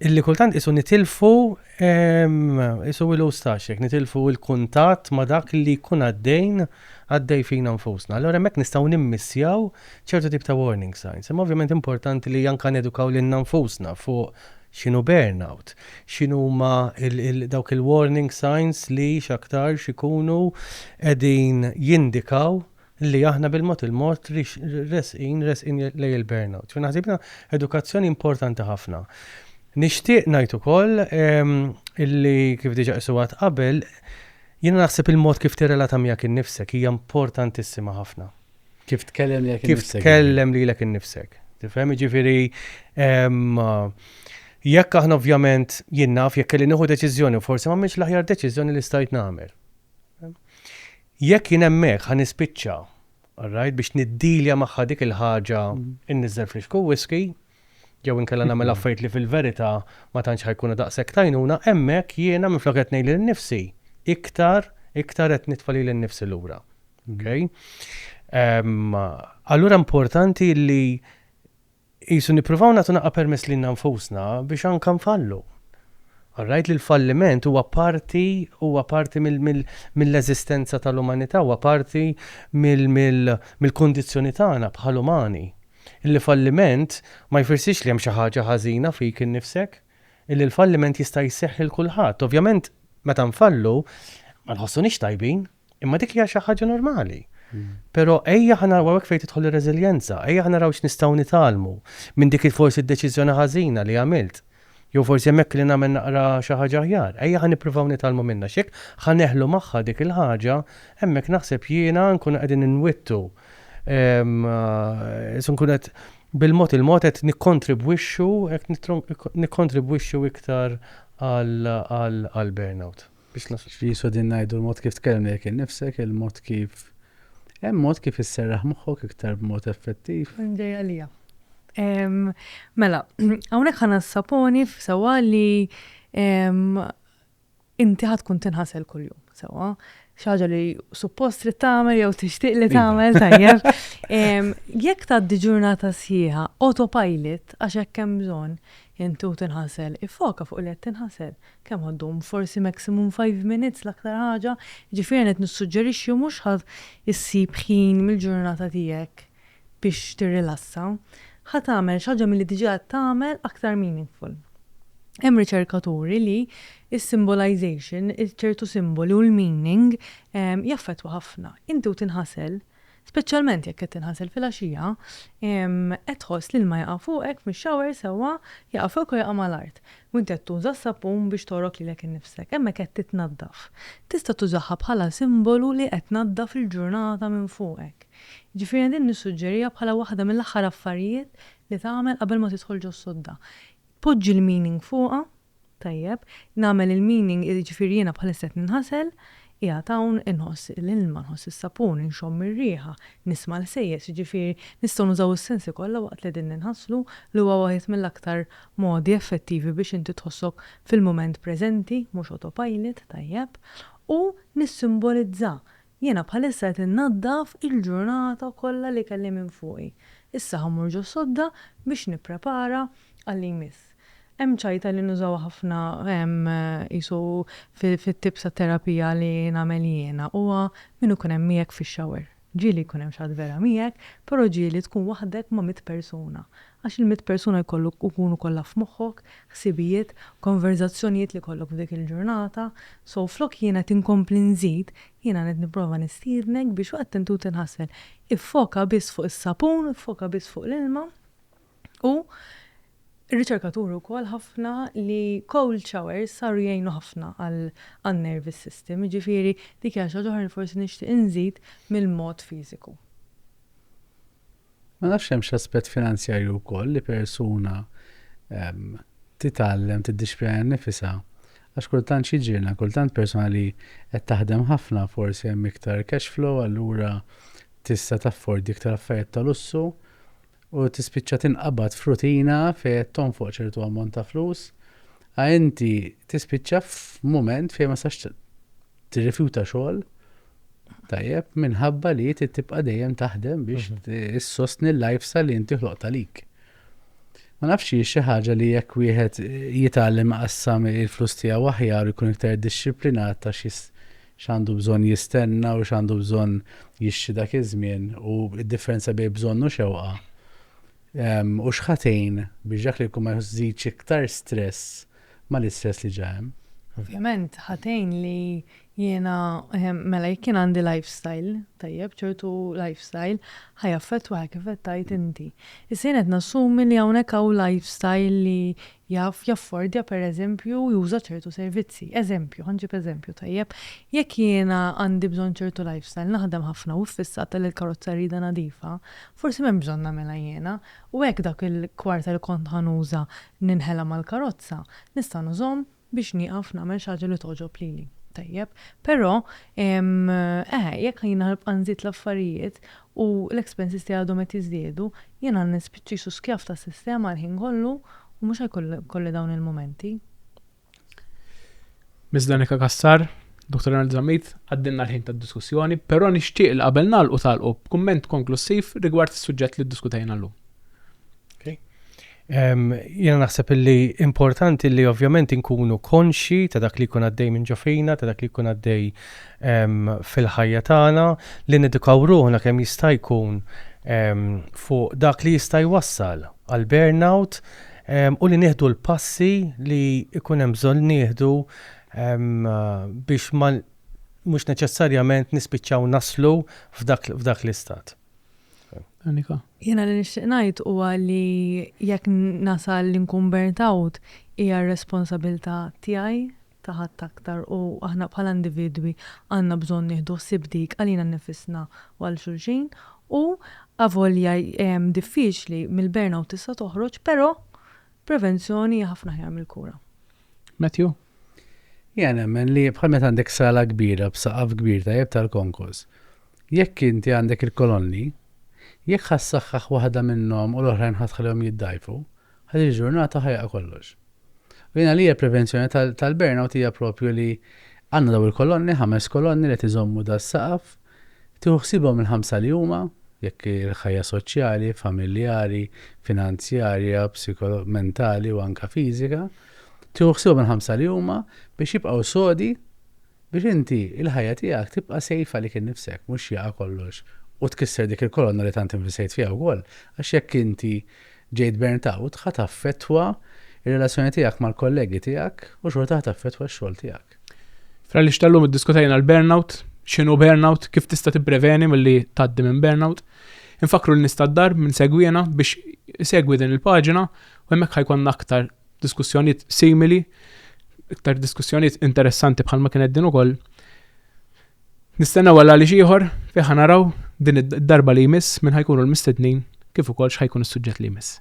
illi kultant qisu nitilfu qisu wilus tax, nitilfu l-kuntatt ma' dak li jkun għaddejn għaddej fina nfusna. Allura hemmhekk nistgħu nimmissjaw ċertu tip ta' warning signs. Imma ovvjament importanti li anke nedukaw lilna nfusna fuq x'inhu burnout, x'inhuma dawk il-warning signs li x'aktarx ikunu qegħdin jindikaw li aħna bil-mod il-mod resqin resqin lejn il-burnout. Jiena naħseb li edukazzjoni importanti ħafna. Nixtieq ngħid ukoll li kif diġà qisuha qabel Jiena naħseb il-mod kif tirrelata miegħek innifsek hija importantissima ħafna. Kif tkellem lilek innifsek. Kif tkellem lilek innifsek. Tifhem, jiġifieri jekk aħna ovvjament jien naf jekk kelli nieħu deċiżjoni u forsi m'għamilx l-aħjar deċiżjoni li stajt nagħmel. Jekk jien hemmhekk ħa nispiċċa, alright, biex niddilja magħha dik il-ħaġa mm. inniżel fl-ixku whisky, jew inkella nagħmel affarijiet li fil-verità ma tantx ħa jkunu daqshekk t'għajnuna, hemmhekk jiena minflok qed ngħid lil nifsi, iktar, iktar qed nitfa' lili nnifsi lura. Okay? Um, allura importanti li jisu nippruvaw nagħtu naqqa' permess lilna nfusna biex anka nfallu. Rajt li l-falliment huwa parti huwa parti mill-eżistenza tal-umanità, huwa parti mill-kondizzjoni tagħna bħal umani. Illi falliment ma jfirssirx li hemm xi ħaġa ħażina fik innifsek. Illi l-falliment jista' jseħħ lil kulħadd. Ovvjament meta nfallu ma nħossunix tajbin, imma dik hija xi ħaġa normali. Però ejja ħa naraw, u hawnhekk fejn tidħol ir-reżiljenza, ejja ħa naraw x'nistgħu nitgħallmu minn dik forsi d-deċiżjoni ħażina li għamilt. Jew forsi hemm hekk li nagħmel naqra xi ħaġa aħjar. Ejja ħa nippruvaw nitgħallmu minnha. X'jekk ħa neħlu magħha dik il-ħaġa, hemmhekk naħseb jiena nkunu qegħdin inwittu, nkunu qed bil-mod il-mod qed nikkontribwixxu, qed nikkontribwixxu iktar għall-burnout. Biex nagħlaq b'episodju ngħidu l-mod kif tkellem lejk innifsek, il-mod kif Hemm mod kif isserraħ moħħok iktar b'mod effettiv? Hemm ġej għalija. Mela, hawnhekk ħa nassaponi f'sewwa li inti ħa tkun tinħasel kuljum, sewwa. Xi ħaġa li suppost trid tagħmel jew tixtieq li iva. tagħmel tajjeb. Jekk tgħaddi ġurnata sħiħa autopilot għax hekk hemm bżonn, intu tinħasel, ifoka fuq li qed tinħasel. Kemm ħa ddum? Forsi maximum five minutes l-aktar ħaġa. Jiġifieri qed nissuġġerixxi u mhux ħa ssib ħin mill-ġurnata tiegħek biex tirrilassa. Ħa tagħmel xi ħaġa milli diġà qed tagħmel aktar meaningful. Hemm riċerka turi li s-symbolization, ċertu simboli u l-meaning jaffettwa ħafna. Inti u tinħasel, Speċjalment jekk qed tinħasel filgħaxija, qed tħoss l-ilma jaqa' fuqek fix-shower sewwa, jaqa' fuqek u jaqa' mal-art, u inti qed tuża s-sapun biex togħrok lilek innifsek, hemmhekk qed titnaddaf. Tista' tużaha bħala simbolu li qed tnaddaf il-ġurnata minn fuqek. Jiġifieri jien din nissuġġeriha bħala waħda mill-aħħar affarijiet li tagħmel qabel ma tidħol ġos-sodda. Poġġi l-meaning fuqha Tajjeb, nagħmel il-meaning, jiġifieri jiena bħalissa qed ninħasel, qiegħed hawn, inħoss l-ilma, nħoss is-sapun, inxomm ir-riħa, nisma' l-ħsejjes, jiġifieri nistgħu nużaw is-sensi kollha waqt li qegħdin ninħaslu, li huwa wieħed mill-aktar modi effettivi biex inti tħossok fil-mument preżenti, mhux autopilot, tajjeb, u nissimbolizza Jiena bħalissa qed innaddaf il-ġurnata kollha li kelli minn fuqi. Issa ħa mmur ġos-sodda biex nipprepara għal li jmiss. Hemm ċajta li nużawha ħafna hemm qisu fit-tips ta' terapija li nagħmel jiena. Huwa min ikun hemm miegħek fix-shower. Ġieli jkun hemm xi ħadd vera miegħek, però ġieli tkun waħdek ma' mitt persuna. Għax il-mitt persuna jkollu jkunu kollha f'moħħok, ħsibijiet, konverżazzjonijiet li jkollok f'dik il-ġurnata. So, flok jien qed inkompli nżid, jiena qed nipprova nistiednek biex waqt inti u tinħasel, iffoka biss fuq is-sapun, iffoka biss fuq l-ilma u r-riċerka turi wkoll ħafna li cold showers saru jgħinu ħafna għan-nervous system. Jiġifieri dik hija xi ħaġa oħra li forsi nixtieq inżid mill-mod fiżiku. Ma nafx hemmx aspett finanzjarju wkoll li persuna titgħallem tiddixxpjana nnifisha għax kultant x'jiġrilna kultant persuna li qed taħdem ħafna forsi hemm iktar cash flow allura tista' taffordi iktar affarijiet ta' lussu u tispiċċa tinqabad f'rutina fejn qed tonfoq ċertu ammont ta' flus a inti tispiċċa f'mument fejn ma tistax tirrifjuta xogħol tajjeb minħabba li trid tibqa' dejjem taħdem biex mhm. issostni l-lifestyle li inti ħloqta lik. Ma nafx hi xi ħaġa li jekk wieħed jitgħallem qassam il-flus tiegħu aħjar ikun iktar dixxiplinat ta' x'għandu bżonn jistenna u x'għandu bżonn jixxi dak iż-żmien u d-differenza bejn bżonn u xewqa. U x'ħatejn biex dak li jkun ma jżidx iktar stress ma' l-istress li ġa hemm. Ovvjament ħa tgħin li jiena, mela jekk jien għandi lifestyle tajjeb, ċertu lifestyle, ħa jaffettwaha kif qed tgħid inti. Issa jien qed nassumi li hawnhekk hawn lifestyle li jaf jaffordja pereżempju juża ċertu servizzi. Eżempju, ħa nġib eżempju, tajjeb? Jekk jiena għandi bżonn ċertu lifestyle, naħdem ħafna u ffissata li l-karozza rridha nadifa, forsi m'hemmx bżonn nagħmilha jiena u hekk dak il-kwarta li kont ħa nuża Ninħela mal-karozza, nista' nużhom biex nieqaf nagħmel xi ħaġa li togħġob lili. Tajjeb. Però, eh, jekk jiena nibqa' nżid l-affarijiet u l-expenses tiegħi għadhom qed jiżdiedu, jiena nispiċċa qisu skjav tas-sistema l-ħin kollu u mhux ħajkolli dawn il-mumenti. Ms. Danica Cassar, Dr. Arnold Zammit, għaddilna l-ħin tad-diskussjoni, però nixtieq li qabel nagħlqu tagħlqu b'kumment konklussiv rigward is-suġġett li ddiskutejna llum. Jiena naħseb li importanti li ovvjament inkunu konxi ta' dak li jkun għaddej minn ġofina, ta' dak li jkun għaddej fil-ħajja tagħna, li nedukaw ruħna kemm jista' jkun fuq dak li jista' jwassal għal burnout, u li nieħdu l-passi li jkun hemm bżonn nieħdu biex mhux neċessarjament nispiċċaw naslu f'dak l-istat. Annika. Jiena li nixtieq ngħid huwa li jekk nasal li nkun burnt out hija r-responsabilità tiegħi ta' ħadd aktar u aħna bħala individwi għandna bżonn nieħdu ħsieb dik għalina nnifisna u għal xulxin u avolja diffiċli mill-burnout tista' toħroġ però prevenzjoni hija ħafna aħjar mill-kura. Matthew? Jiena nemmen li bħal meta għandek sala kbira b'saqaf kbir tajjeb tal-konkos, jekk inti għandek il-kolonni, jekk ħa ssaħħaħ waħda minnhom u l-oħrajn ħa tħallihom jiddgħajfu, Għal din il-ġurnata ħajqa kollox. U jien għalija l-prevenzjoni tal-burnout hija proprju li għandna dawn il-kolonni, ħames kolonni li qed iżommu das-saqaf, tieħu ħsiebhom il-ħamsa li huma, jekk il-ħajja soċjali, familjari, finanzjarja, mentali u anke fiżika, tieħu ħsiebhom il-ħamsa li huma biex jibqgħu sodi Biex inti, il-ħajja tiegħek tibqa' safe għalik innifsek, mhux jaqa' kollox u tkisser dik il-kolonna li tant invistejt fiha wkoll, għax jekk inti ġejt burnt out, ħa taffettwa r-relazzjoni tiegħek mal-kollegi tiegħek u xorta ħa taffettwa x-xogħol tiegħek. Fl-Għaliex tal-lum iddiskutejna l-burnout, x'inhu burnout, kif tista' tippreveni milli tgħaddi minn burnout. Infakkru lin-nies tad-dar min segwiena biex isegwi din il-paġina u hemmhekk ħa jkollna aktar diskussjonijiet simili, iktar diskussjonijiet interessanti bħalma kienet din ukoll. Nistennew għal għaliex ieħor fiħa naraw din id-darba li jmiss minn ħajkunu l-mistednin kif ukoll x'ħajkun is-suġġett li jmiss.